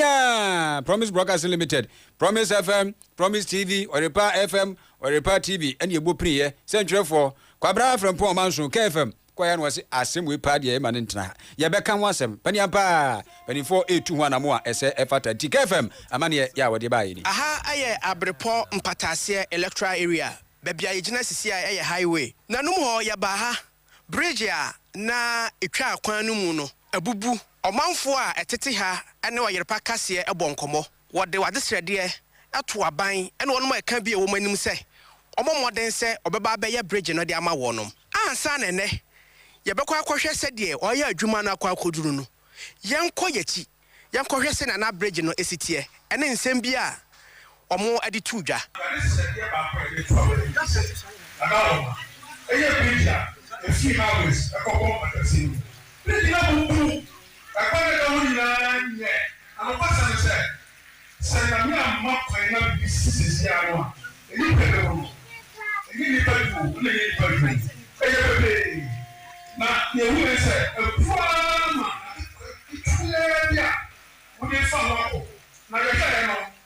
S1: a Promise Broadcasting Limited, Promise FM, Promise TV, Ɔyerpa FM, Ɔyerpa TV ɛne ɛbɔ piniiɛ sɛ ntwerɛfoɔ Kwabena Frempong Ɔmanso, KFM, kɔeɛ na wɔse asɛm wei paa deɛ yɛma no ntena ha, yɛbɛka ho asɛm, paneam paa, panimfoɔ retu ho anamo a ɛsɛ ɛfata nti KFM amaneɛ yɛ a wɔde baeɛ ni. Aha yɛ Abirepɔ
S13: Mpataaseɛ Electoral Area, baabi a yɛgyina sisi a yɛ highway. Nanom hɔ yɛbaa ha, bridge a na ɛtwa kwan no mu no abubu, ɔmanfoɔ a ɛtete ha ne ɔyerepa kaseɛ bɔ nkɔmmɔ. Wɔde w'adesrɛdeɛ to aban ne wɔnom a ɛka bi a ɛwɔ mu anim sɛ wɔmmɔ mmɔden sɛ wɔbɛba abɛyɛ bregye no de ama wɔnom. Ansa na ɛnnɛ yɛbɛkɔ akɔhwɛ sɛdeɛ wɔayɛ adwuma no akɔ akɔduru no, yɛnkɔ yɛakyi yɛnkɔhwɛ sɛnea na bregye no si teɛ ɛne nsɛm bi a wɔde too dwa. Adesrɛdeɛ baako a yɛde to aban anim sɛ na na wɔma ɛyɛ bregye a ɛfiri Highways kɔpɔn Akansie no mu. Bregye no abubu Ɛkwan a ɛda hɔ nyinaa nyɛ anokwa
S10: sɛm ne sɛ, sɛ Nyame amma kwan na biribi sisi sɛsi ara no a, ɛnyɛ pɛ ne ho no, ɛnyɛ nnipa du o, ɛna ɛnyɛ nnipa du o, ɛyɛ pɛpɛɛe. Na deɛ ɛhu yɛ ne sɛ, ɛboa ara ma ade ketewa bi a wode refa ho akɔ, na yɛhwɛeɛ no,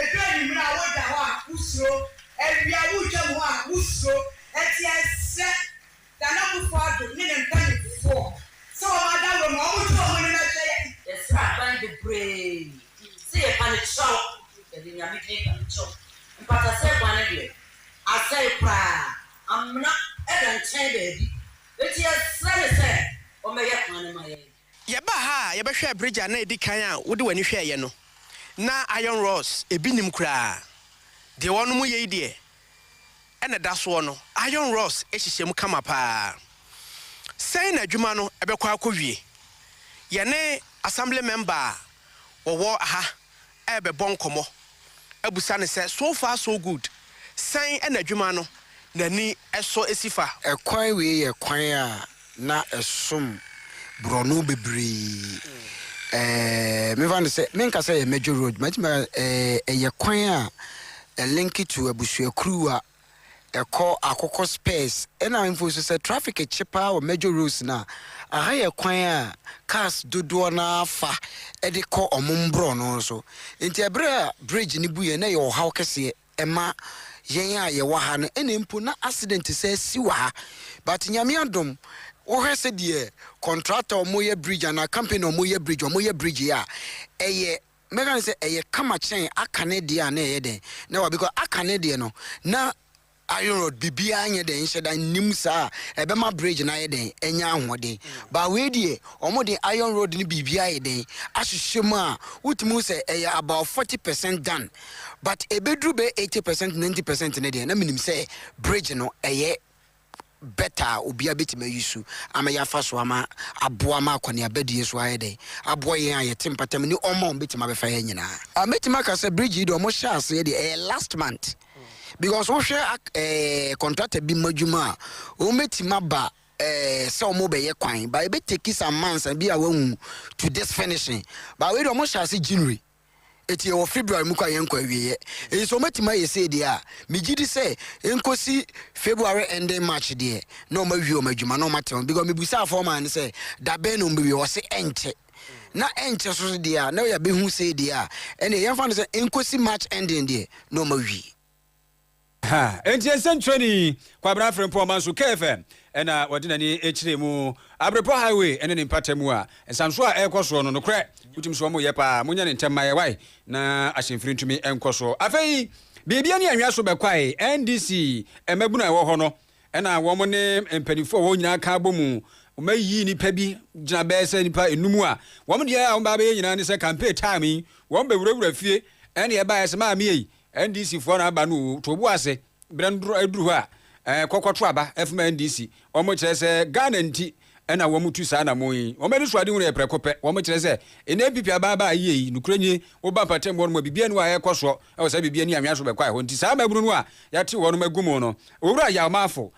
S14: Edu anwummere a woda hɔ a, wusuro, awia woretwam hɔ a, wusuro. Enti ɛsɛ Nana Akufo-Addo ne ne mpanimfoɔ sɛ wɔn adaworo mu a wɔtu wɔn anim hwɛ yɛn. Yɛsrɛ aban bebree sɛ yɛpa no kyɛw, yɛde Nyame din pa no kyɛw. Mpatasɛe bɔne deɛ, asɛe koraa, amena da nkyɛn baabi. Enti yɛsrɛ no sɛ ɔmmɛyɛ kwan no ma yɛn. Yɛbaa ha a,
S13: yɛbɛhwɛɛ bridge a na edi kan a wode w'ani hwɛeɛ no. Ná iron rods, ebi nnim koraa. Deɛ wɔnom yei deɛ, ɛna ɛda soɔ no, iron rods hyehyɛ mu kama pa ara. Sɛn na adwuma no bɛkɔ akɔwie? Yɛne Assembly Member a wɔwɔ ha rebɛbɔ nkɔmmɔ abisa no sɛ, So far so good? Sɛn na adwuma no n'ani sɔ si fa? Kwan wei yɛ
S15: kwan a na ɛsom borɔno bebree. Ɛɛ, memfa no sɛ, menka sɛ ɛyɛ major road, mɛtumi aka sɛ ɛyɛ kwan a ɛlinke to abusuakuruwa ɛkɔ akokɔ spurs ɛna ahemfo nso sɛ traffic kye paa wɔ major roads no a aha yɛ kwan a cars dodoɔ no ara fa de kɔ ɔmo mborɔno so nti ɛberɛ a bridge no buiɛ na ɛyɛ ɔhaw kɛseɛ ɛma yɛn a yɛwɔ ha no ɛna mpo na accident saa si wɔ ha but Nyame adom wohwɛ sɛdeɛ contractor ɔmo yɛ bridge anaa company ɔmo yɛ bridge ɔmo yɛ bridge yɛ a ɛyɛ Mɛka no sɛ ɛyɛ kama kyɛn aka ne deɛ a na ɛyɛ dɛn na wa because aka ne deɛ no na iron rod bibiara nyɛ dɛn nhyɛ da nnim saa ɛbɛma bridge no ayɛ dɛn anya ahoɔden ba wei deɛ wɔn de iron rod no biribi ayɛ dɛn ahyehyɛ mu a wotumi sɛ ɛyɛ about 40 percent done but ɛbɛduru bɛ 80 percent 90 percent ne deɛ na menim sɛ bridge no ɛyɛ bɛtɛ a obiara betumi ayi so ama yɛafa so ama aboa ma akɔneabadie so ayɛ dɛn aboa yɛn a yɛte mpata mu ne ɔma wɔbɛtumi abɛfa yɛn nyinaa. Ah mɛtumi aka sɛ bridge yi deɛ wɔn hyɛ aseɛ deɛ ɛyɛ last month because wohwɛ ak ɛɛ contractor bi ma dwuma a wɔn bɛtumi aba ɛɛ sɛ wɔn bɛyɛ kwan but ɛbɛ take some months a bi a wɔn ahu to this finishing but wei deɛ wɔn hyɛ ase January. Enti yɛwɔ February mu kɔ a yɛnkɔ awieɛ. Enti sɛ wɔbɛtumi ayɛ sei deɛ a, megye di sɛ ɛnkɔsi February ending March deɛ, na wɔawie wɔn adwuma na wɔate wɔn. Because mebusaa foreman no sɛ da bɛn na wɔbɛwie, ɔse ɛnkyɛ. Na ɛnkyɛ nso deɛ a, na yɛabɛhu sei deɛ a, ɛnneɛ yɛmfa no sɛ ɛnkɔsi March ending deɛ, na wɔawie.
S1: Ha enti nsɛnkyerɛni Kwabena Frimpong manso KFM na ɔde n'ani kyerɛɛ mu. Abrepɔ Highway ne ne mpata mu a nsansoɔ a ɛrekɔ soɔ no, nokorɛ wotumi sɛ wɔyɛ paa. Monyɛ no ntɛm ma yɛ wae na ahyɛnfiri ntumi nkɔ so. Afei biribi ani anwea so bɛkwae, NDC mmabunu a ɛwɔ hɔ no na wɔn ne mpanimfoɔ a wɔn nyinaa ka abɔ mu ma yii nnipa bi gyina bɛyɛ sɛ nnipa enum a wɔn deɛ a wɔn ba abɛyɛ nyinaa ne sɛ campaign time yi wɔn bɛwurawura fie ɛne ɛbaeɛ sɛ maame ei NDC foɔ na aba no oo to bo ase berɛ no aduru hɔ a eh, kɔkɔ to aba eh, fma NDC wɔn kyerɛ sɛ Ghana nti ɛna wɔn tu saa anamɔn yi wɔn ani so ade hunu yɛ prɛko pɛ wɔn kyerɛ sɛ ɛnɛ NPP aba aba a yie yi nokorɛ nie woba mpatam hɔ nom a biribi ani a ɛkɔ soɔ ɛwɔ sɛ biribi ani anwea so bɛkɔ a ɛhɔ nti saa mabunu no a yɛate wɔn agu mu no Owura Yaw Maafo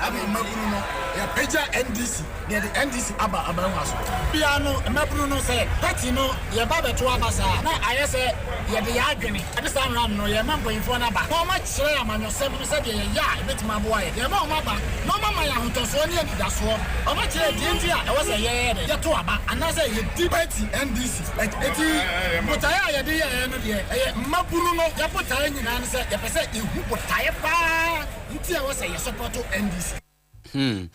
S16: Afei mmabunu no, yɛapagya NDC na yɛde NDC aba aban mu asomdwoe. Bia no, mmabunu no, sɛ party no yɛba abɛto aba saa a, na ayɛ sɛ yɛde yɛn adwene de saa mmara no no yɛrema mpanyimfoɔ no aba na wɔakyerɛ amanyɔsɛm no sɛdeɛ yɛyɛ a ɛbɛtumi aboa yɛn. Yɛrema wɔn aba na wɔama yɛn ahotɔsoɔ ne anidasoɔ. Wɔakyerɛ deɛ nti a ɛwɔ sɛ yɛyɛ dɛn? Yɛto aba anaasɛ yɛdi party NDC akyi. Enti botaeɛ a yɛde yɛeɛ no deɛ, ɛyɛ mmabunu no. Yɛn botaeɛ nyinaa ne sɛ yɛpɛ sɛ yɛhu botaeɛ pa ara. Nti a wɔsɛ
S1: yɛ sɔpɔto NDC. Hmm.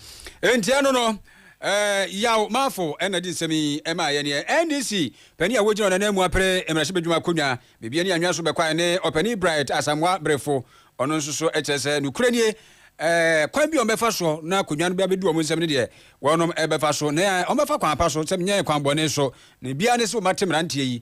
S1: Enti ɛno no, eh, Yaw Maafo na de nsɛm yi maa yɛn yɛ NDC panin a wogyina ɔnananmu apere mmarahyɛbadwuma akonnwa baabi ne anwea so bɛkwae ne ɔpanin Bright Asamoah Brefo. Ɔno nso so kyerɛ sɛ nokorɛ nie, eh, kwan bi a wɔbɛfa so na akonnwa no bɛabɛdu wɔn nsɛm no deɛ wɔnom bɛfa so na wɔbɛfa kwan pa so sɛ menyɛ kwan bɔne so na biara ne sɛ wɔmate mmeranteɛ yi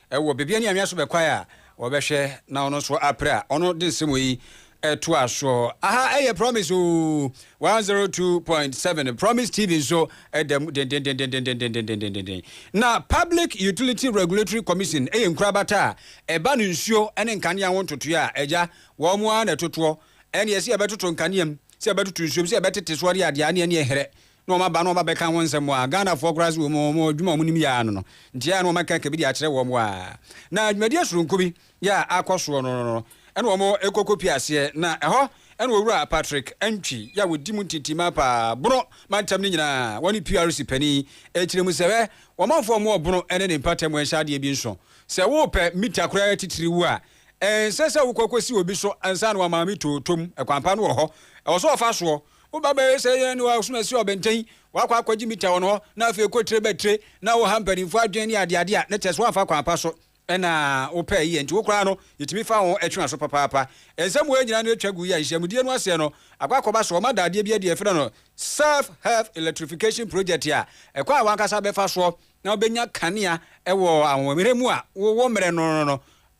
S1: Ɛwɔ bebia ne anwea so bɛkwae a wɔbɛhwɛ na ɔno nso apere a ɔno de nsɛm wei ɛtoa soɔ. Aha ɛyɛ promise oo 102.7 promise TV nso ɛda mu dendenden. Na public utility regulatory commission ɛyɛ nkurabata a ɛba no nsuo ɛne nkanea ho ntotoeɛ a agya wɔn ara na ɛtotoɔ ɛne ɛsɛ yɛbɛtoto nkanea mu sɛ yɛbɛtoto nsuo mu sɛ yɛbɛtete so ɛne adeɛ ɛne ɛne ɛherɛ na wɔn aba na wɔn abɛka ho nsɛm a Ghanafoɔ koraa nso wɔ mu, wɔn adwuma a wɔnim yɛ ara no no nti a na wɔn aka ka bi de akyerɛ wɔn a na dwumadie soronko bi yɛ a akɔ soɔ no no na wɔn rekɔ kɔpie aseɛ na ɛhɔ na Owura Patrick Antwi yɛ a wɔdi mu ntintimmaa paa Bono mantam no nyinaa wɔ ne PRC panin ɛkyerɛ mu sɛ hwɛ ɔmanfoɔ mo wɔ Bono ne ne mpata mu ɛnhyɛ adeɛ bi nso sɛ worepɛ mita koraa titiriw a ɛnsɛ sɛ wokɔ kɔsi obi so ansa na wama me tootom ɛkwan pa no wɔ hɔ ɛwɔ sɛ wɔfa soɔ Wo ba bɛyɛ sɛ yɛn ne wo a woso no si ɔbɛntɛn, woakɔ akɔgye mita wɔ ne hɔ, na afei kɔ tire bɛ tire, na woha mpanimfoɔ adwene ne adeade a na kyerɛ sɛ woamfa kwan pa so na wopɛɛ yɛ nti wo koraa no, yɛtumi fa ho twe w'aso papaapa. Nsɛm wei nyinaa no atwa gu yi a nhyiamudie no aseɛ no akɔ akɔba so wɔma da adeɛ bi adi a yɛfrɛ no Self Help Electrification Project a ɛkwan a w'ankasa bɛfa soɔ na wobɛnya kanea wɔ ahoɔmmerɛ mu a wowɔ mmerɛ no no no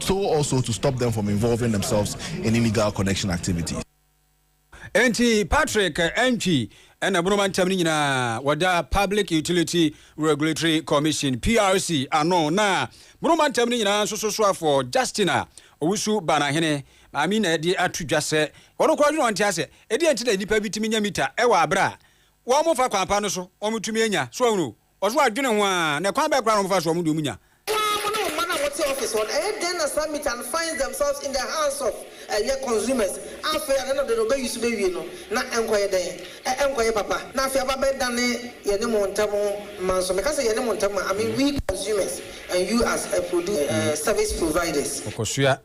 S9: so also to stop them from involving themselves in illegal connection activities. Enti
S1: Patrick Antwi ɛna ɛbono ma ntɛm no nyinaa wɔda Public Utility Regulatory Commission, PRC, ano na bono ma ntɛm no nyinaa nso so soafoɔ Justina Owusu Banahene maame na ɛde ato dwa sɛ wɔn koraa dwene wɔn te asɛ ɛdeɛ nti na nnipa bi tumi nya mita ɛwɔ abere a wɔn fa kwan pa no so wɔn tumi anya so ahunu Ɔso adwene ho aa na kwan bɛn koraa na ɔmo fa soa ɔmo deɛ ɔmo nya. Paa mo ne mo mma no a mote
S17: office hɔ no ɛyɛ dɛn na saa meat and finds themselves in the hands of ɛyɛ consumers a afei a nano de no ɔbɛ use bɛwie no na ɛnkɔyɛ dɛn ɛ ɛnkɔyɛ papa na afei aba bɛ dane yɛne mo ntɛm mma nso meka sɛ yɛne mo ntɛm a I mean we consumers and you as a produ ɛɛ service providers. Ɔkɔsoa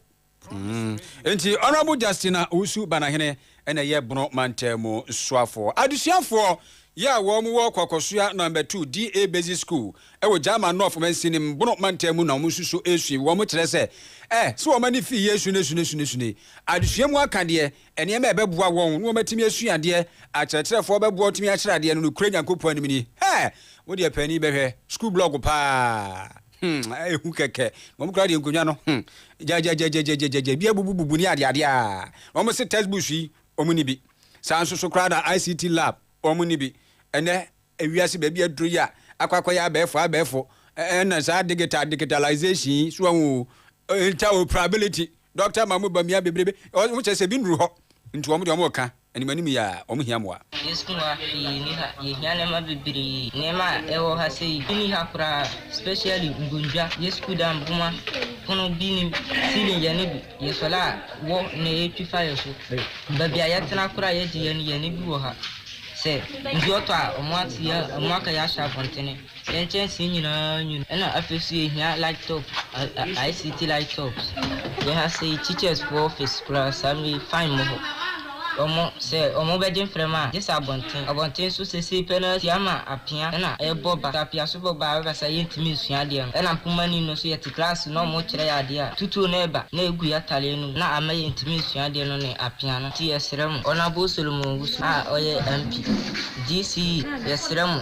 S1: Mm. Enti Honourable Justina Owusu Banahene na ɛyɛ Bono Mantam mu soafoɔ. Adesuafoɔ yɛ a wɔn wɔ Kwakosoa Number Two DA Basic School wɔ Gyama North Mansinim, Bono Mantam mu na wɔn nso so resua. Wɔn kyerɛ sɛ, ɛ, sɛ wɔn ani fi Yesu ne sune sune sune adesua mu aka deɛ, nneɛma a ɛbɛboa wɔn na wɔn atumi asua adeɛ, akyerɛkyerɛfoɔ bɛboa wɔn atumi akyerɛ adeɛ no nokorɛ Nyankopɔn anim ni. Hɛ! Mo deɛ panin bɛhwɛ, school blog paa. hmm, ehu kɛkɛ. Na wɔn kura deɛ nkonnwa no, hmm, gyagyagyagyagyagya, bi abubububu ne adeade a. Na wɔn se textbooks yi, wɔn ni bi. Saa nso so koraa na ICT lab, wɔn ni bi. Ɛnɛ ewiase baabi aduro yi a, akɔ akɔyɛ abɛɛfo abɛɛfo. Ɛnna saa digital digitalization yi, so wɔn o, interoperability. Doctor ma ɔmo ba mia bebrebe ɔmo kyerɛ sɛ ebi nduru hɔ nti ɔmo deɛ ɔmo reka anim anim yi aa ɔmo hia mmoa. Yɛn sukuu ha hwee
S18: nni ha, yɛhia nneɛma bebree. Nneɛma a ɛwɔ ha sɛ yi, bi nni ha koraa, specially nkondwa, yɛ sukuu dan boma, pono, bi nnim, ceiling yɛn ani bi, yɛ solar a wɔ na ɛretwi fa yɛ so, baabi a yɛtena koraa a yɛgye yɛn ani, yɛn ani bi wɔ ha, sɛ nsuo tɔ a ɔmo ate yɛn, ɔmo aka yɛn ahyɛ abɔntene, Yɛn nkyɛnsee nyinaa nwunu ɛna afei nso yɛhia light top, ICT light tops. Yɛn ha sei teachers foɔ office koraa saa mmerɛ yi fine mmɔ hɔ. Wɔn sɛ wɔn bɛgye mframa a gye sɛ abɔnten. Abɔnten nso seesei pɛ no ara si ama apea ɛna ɛrebɔ ba. Sɛ apea nso bɔ ba a ɛba saa yɛntumi nsua adeɛ no. Ɛna mpoma ni no nso yɛte class na wɔrekyerɛ yɛn adeɛ a tutuo no reba na ɛgu yɛn atadeɛ no mu na ama yɛntumi nsua adeɛ no ne apea no. Nti yɛsrɛ mo. Honourable Solomon Owusu a ɔyɛ MP, GCE, yɛsrɛ mo.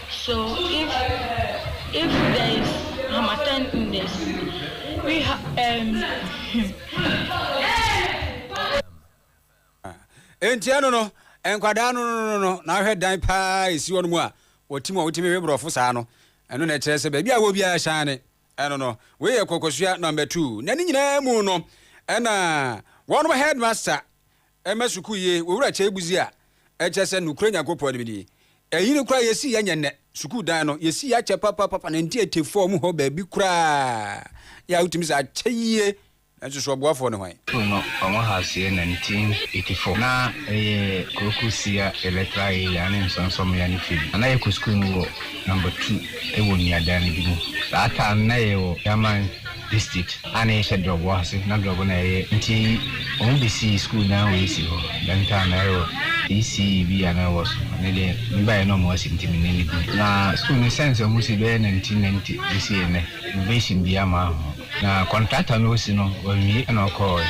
S19: So
S1: if if there is hamatan in this we ha um hmm. Enti ɛno no nkwadaa no no no na ahwɛ dan paa esi hɔ no mu a wɔtim a wɔtumi hwɛ borɔfo saa no ɛno na ɛkyerɛ sɛ baabi a wɔ biara hyɛn ɛno no wei yɛ kɔkɔsua number two na ne nyinaa mu no ɛna wɔn headmaster Ɛma sukuu ye, wowura kyɛe budzi a, ɛkyerɛ sɛ nokorɛ Nyankopɔn no bɛdi. Ɛyi no koraa yɛsi yɛ nyɛ nnɛ. Sukuu dan no, yɛsi yɛ akyɛ papapapa na ntiatia fam hɔ baabi koraa yɛ a wotumi sɛ akyɛ yie. Nanso so ɔboafoɔ ne hwan? Sukuu no, wɔn house
S20: yɛ 1984. Na ɛyɛ Kwoku Sia Electoral Area ne Nsɔnsɔmmea no firi. Na na yɛkɔ sukuu no wɔ number two wɔ nnuadan no bi mu. Saa time no na yɛwɔ German. district a na yɛhyɛ drɔbo ase na drɔbo na yɛyɛ nti ɔmo de sii school na wei si hɔ dɛm time na ɛwɔ ECE bi a na ɛwɔ so ɛno deɛ me baeɛ na ɔmo asi nti me nne no bi na school no sɛnse ɔmo si bɛyɛ nineteen ninety besi ɛnɛ renovation biaa maa ho na contractor na ɔsi no wawie ɛna ɔkɔɔɛ.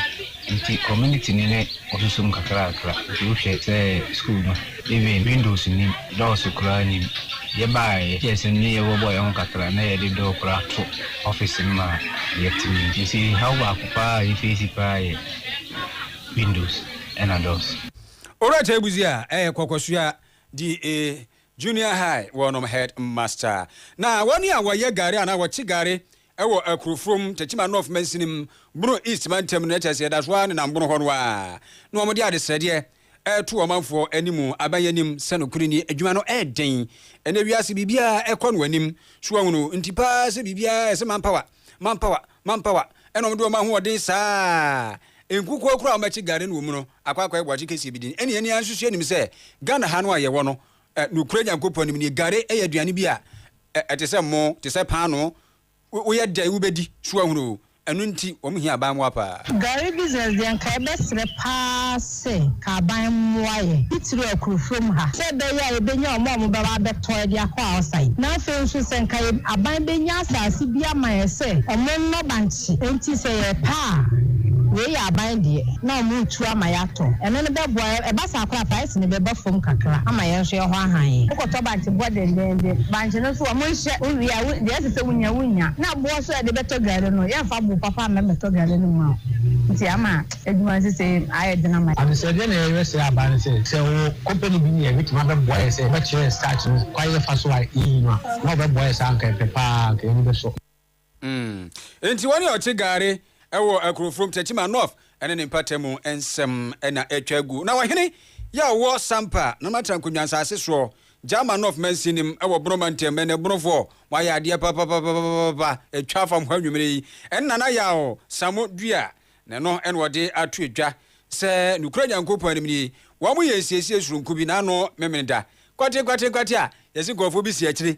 S20: Nti community no ne ɔsosom kakrakra nti wohwɛ sɛ school no even windows nnim doors koraa nnim yɛbaeɛ yɛhwɛɛ sɛ ne yɛbɔbɔ yɛn ho kakra na yɛde door koraa to office no ma yɛtumi nti haw baako paa a yɛ face paa yɛ windows ɛna doors. Owura Tɛɛbuzi
S1: a ɛyɛ Kɔkɔsua DA Junior High wɔnom head master na wɔn a wɔyɛ gari anaa wɔkye gari Ɛwɔ Akurofurom, Techiman North mansini mu, Bono East mantam no, na kyerɛ sɛ yɛda so ara nenam Bono hɔ no ara na wɔde ade srɛdeɛ reto ɔmanfoɔ anim, aban anim sɛ nokorɛ nie, adwuma no yɛ den. Ɛnnɛ wiase biribiara kɔ no anim, so wahunu, nti pa ara sɛ biribiara yɛ sɛ manpower, manpower, manpower, ɛna wɔde wɔn ahoɔden saa a nkukuo koraa a wɔbɛkye gari no wɔ mu no akɔ akɔyɛ boakye kɛseɛ bi din. Ɛne yɛn ara nso so yɛnim sɛ Ghana ha no a yɛwɔ no, Ɛ, nokorɛ Nyankopɔn nim nie. Gari yɛ aduane bi a ɛ, ɛte sɛ mmoo, te sɛ paanoo. Wo, woyɛ dɛn wobɛdi so ahunu oo. Ɛno nti wɔn hia aban mmoa paa. Gari business deɛ
S3: nka yɛbɛsrɛ paa se ka aban mmoa yɛn, titiriw akurofurom ha, sɛ ɛbɛyɛ a yɛbɛnya wɔn a wɔbɛba abɛtɔ de akɔ Aosa yi. Na afei nso sɛ nka yɛ, aban bɛnya asase bi ama yɛn sɛ wɔnnɔ bankye. Enti sɛ yɛpɛ a, wei yɛ aban deɛ, na wɔretu ama yɛatɔ. Ɛno no bɛboa yɛn. Ɛba saa koraa a, fa. sini bɛba fam kakra ama yɛn nso yɛhɔ ahan. Wokɔtɔ bankye boɔ dendeenden, bankye no nso wɔn nhyɛ, wo wie a wo deɛ ɛsɛ sɛ wo nya wo nya, na boɔ nso a yɛde bɛtɔ gari no yɛn nfa boo papa mma mmɛtɔ gari no mma wo, nti ama adwuma nsesei ayɛ den ama yɛn. Adesrɛdeɛ na yɛyɛ srɛ aba no sɛ, sɛ wo company bi ni a ɛbɛtumi abɛboa yɛn sɛ yɛbɛkyerɛ yɛn starch no kwan yɛfa so a yɛyi no a, na wɔbɛboa yɛn saa a anka ɛpɛ paa, anka yɛn ani bɛsɔ. Mm.
S1: Enti wɔn a wɔte Gare wɔ Akurofurom, Techiman North ne ne mpatamu nsɛm na atwa agu. Na ɔhene yi a ɔwɔ Sampa, na ɔno atra nkonnwa nsase soɔ, Jama North mansin no mu, wɔ Bono mantam, ɛnɛ Bonofoɔ wɔayɛ adeɛ papapapapapa atwa afa mo hɔ anwummere yi. Ɛne Nana Yaw Samo dua, na ɛno na wɔde ato dwa sɛ nokorɛ Nyankopɔn anim nie, wɔyɛ nsiesie soronko bi, n'ano memene da, kwatenkwate nkwate a yɛse nkurɔfoɔ bi si akyire.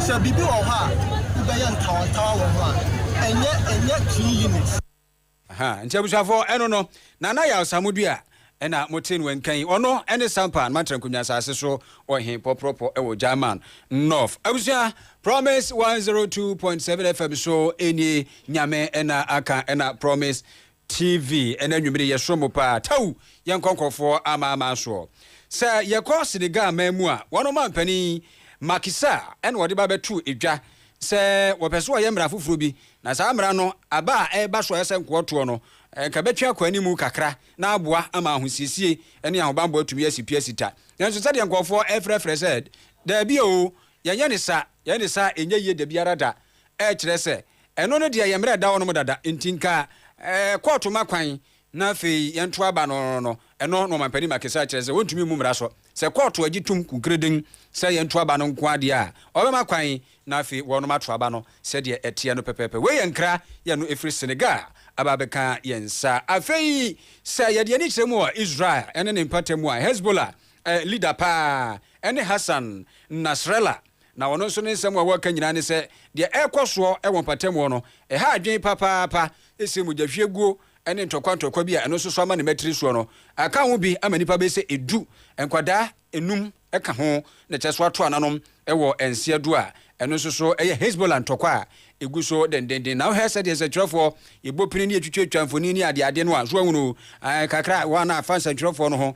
S4: Sɛ biribi wɔ hɔ a wobɛyɛ ntawantawa wɔ ho a, ɛnyɛ ɛnyɛ three units. Aha, nti
S1: abusuafoɔ, ɛno no, Nana Yaw Samodua ɛna mote no nka yi. Ɔno ɛne Sampan Mantra Nkunya Asase so Ɔhen Pɔprɔpɔ ɛwɔ German North. Abusua, Promise 102.7 FM so ɛnie, Nyame ɛna aka ɛna Promise TV ɛna anwummere yɛsoro mo paa taww yɛnkɔ nkorɔfoɔ amaamaa soɔ sɛ yɛkɔ Senegal man mu a wɔn ɔmanpanin Macky Sall ɛna ɔde ba bɛto dwa sɛ wɔpɛ sɛ wɔyɛ mmara foforɔ bi na saa mmara no aba a ɛreba so a ɛsɛ nkoɔtoɔ no nka bɛtwe akɔ anim kakra na aboa ama ahosiesie ne ahobanbɔ atumi asi pi asi ta nanso sɛdeɛ nkorɔfoɔ ɛrefrɛfrɛ sɛ daabi oo yɛnyɛ ne sa yɛyɛ ne sa a ɛnyɛ yie dabiara da ɛkyerɛ sɛ Ɛno no deɛ yɛ mmerɛ ɛda hɔ nom dada nti nka kɔɔto ma kwan na afei yɛnto aba no no ɛno na ɔmampanin Makisai kyerɛ sɛ wɔntumi mmu mmara so sɛ kɔɔto agye tom kunkereden sɛ yɛnto aba no nko ara deɛ a ɔbɛma kwan na afei wɔnom ato aba no sɛdeɛ ɛteɛ no pɛpɛɛpɛ. Wei yɛ nkra yɛ no ɛfiri Senegal aba abɛka yɛn nsa. Afei sɛ yɛde ani kyerɛ mu wɔ Israel ne ne mpata mu a, Hezbollah leader paa ne Hassan Nasrallah. Na ɔno nso ne nsɛm a wɔka nyinaa ne sɛ, deɛ ɛrekɔ soɔ wɔ mpatamuo no, ɛha adwene papaapa, ɛsiane mogyahwieguo ne ntɔkwa ntɔkwa bi a ɛno nso so ama ne mmatiri soɔ no aka ho bi ama nnipa bɛyɛ sɛ edu, nkwadaa nnum ka ho, na kyerɛ so ato ananom wɔ nseɛ do a ɛno nso so yɛ Hezbollah ntɔkwa a ɛgu so dendenden. Na wohwɛ sɛdeɛ nsɛntwerɛfoɔ yɛbɔ pini ne yɛtwitwatwa mfonin ne adeade no a, so ahunu kakra a wɔn a afa nsɛntwerɛfoɔ no ho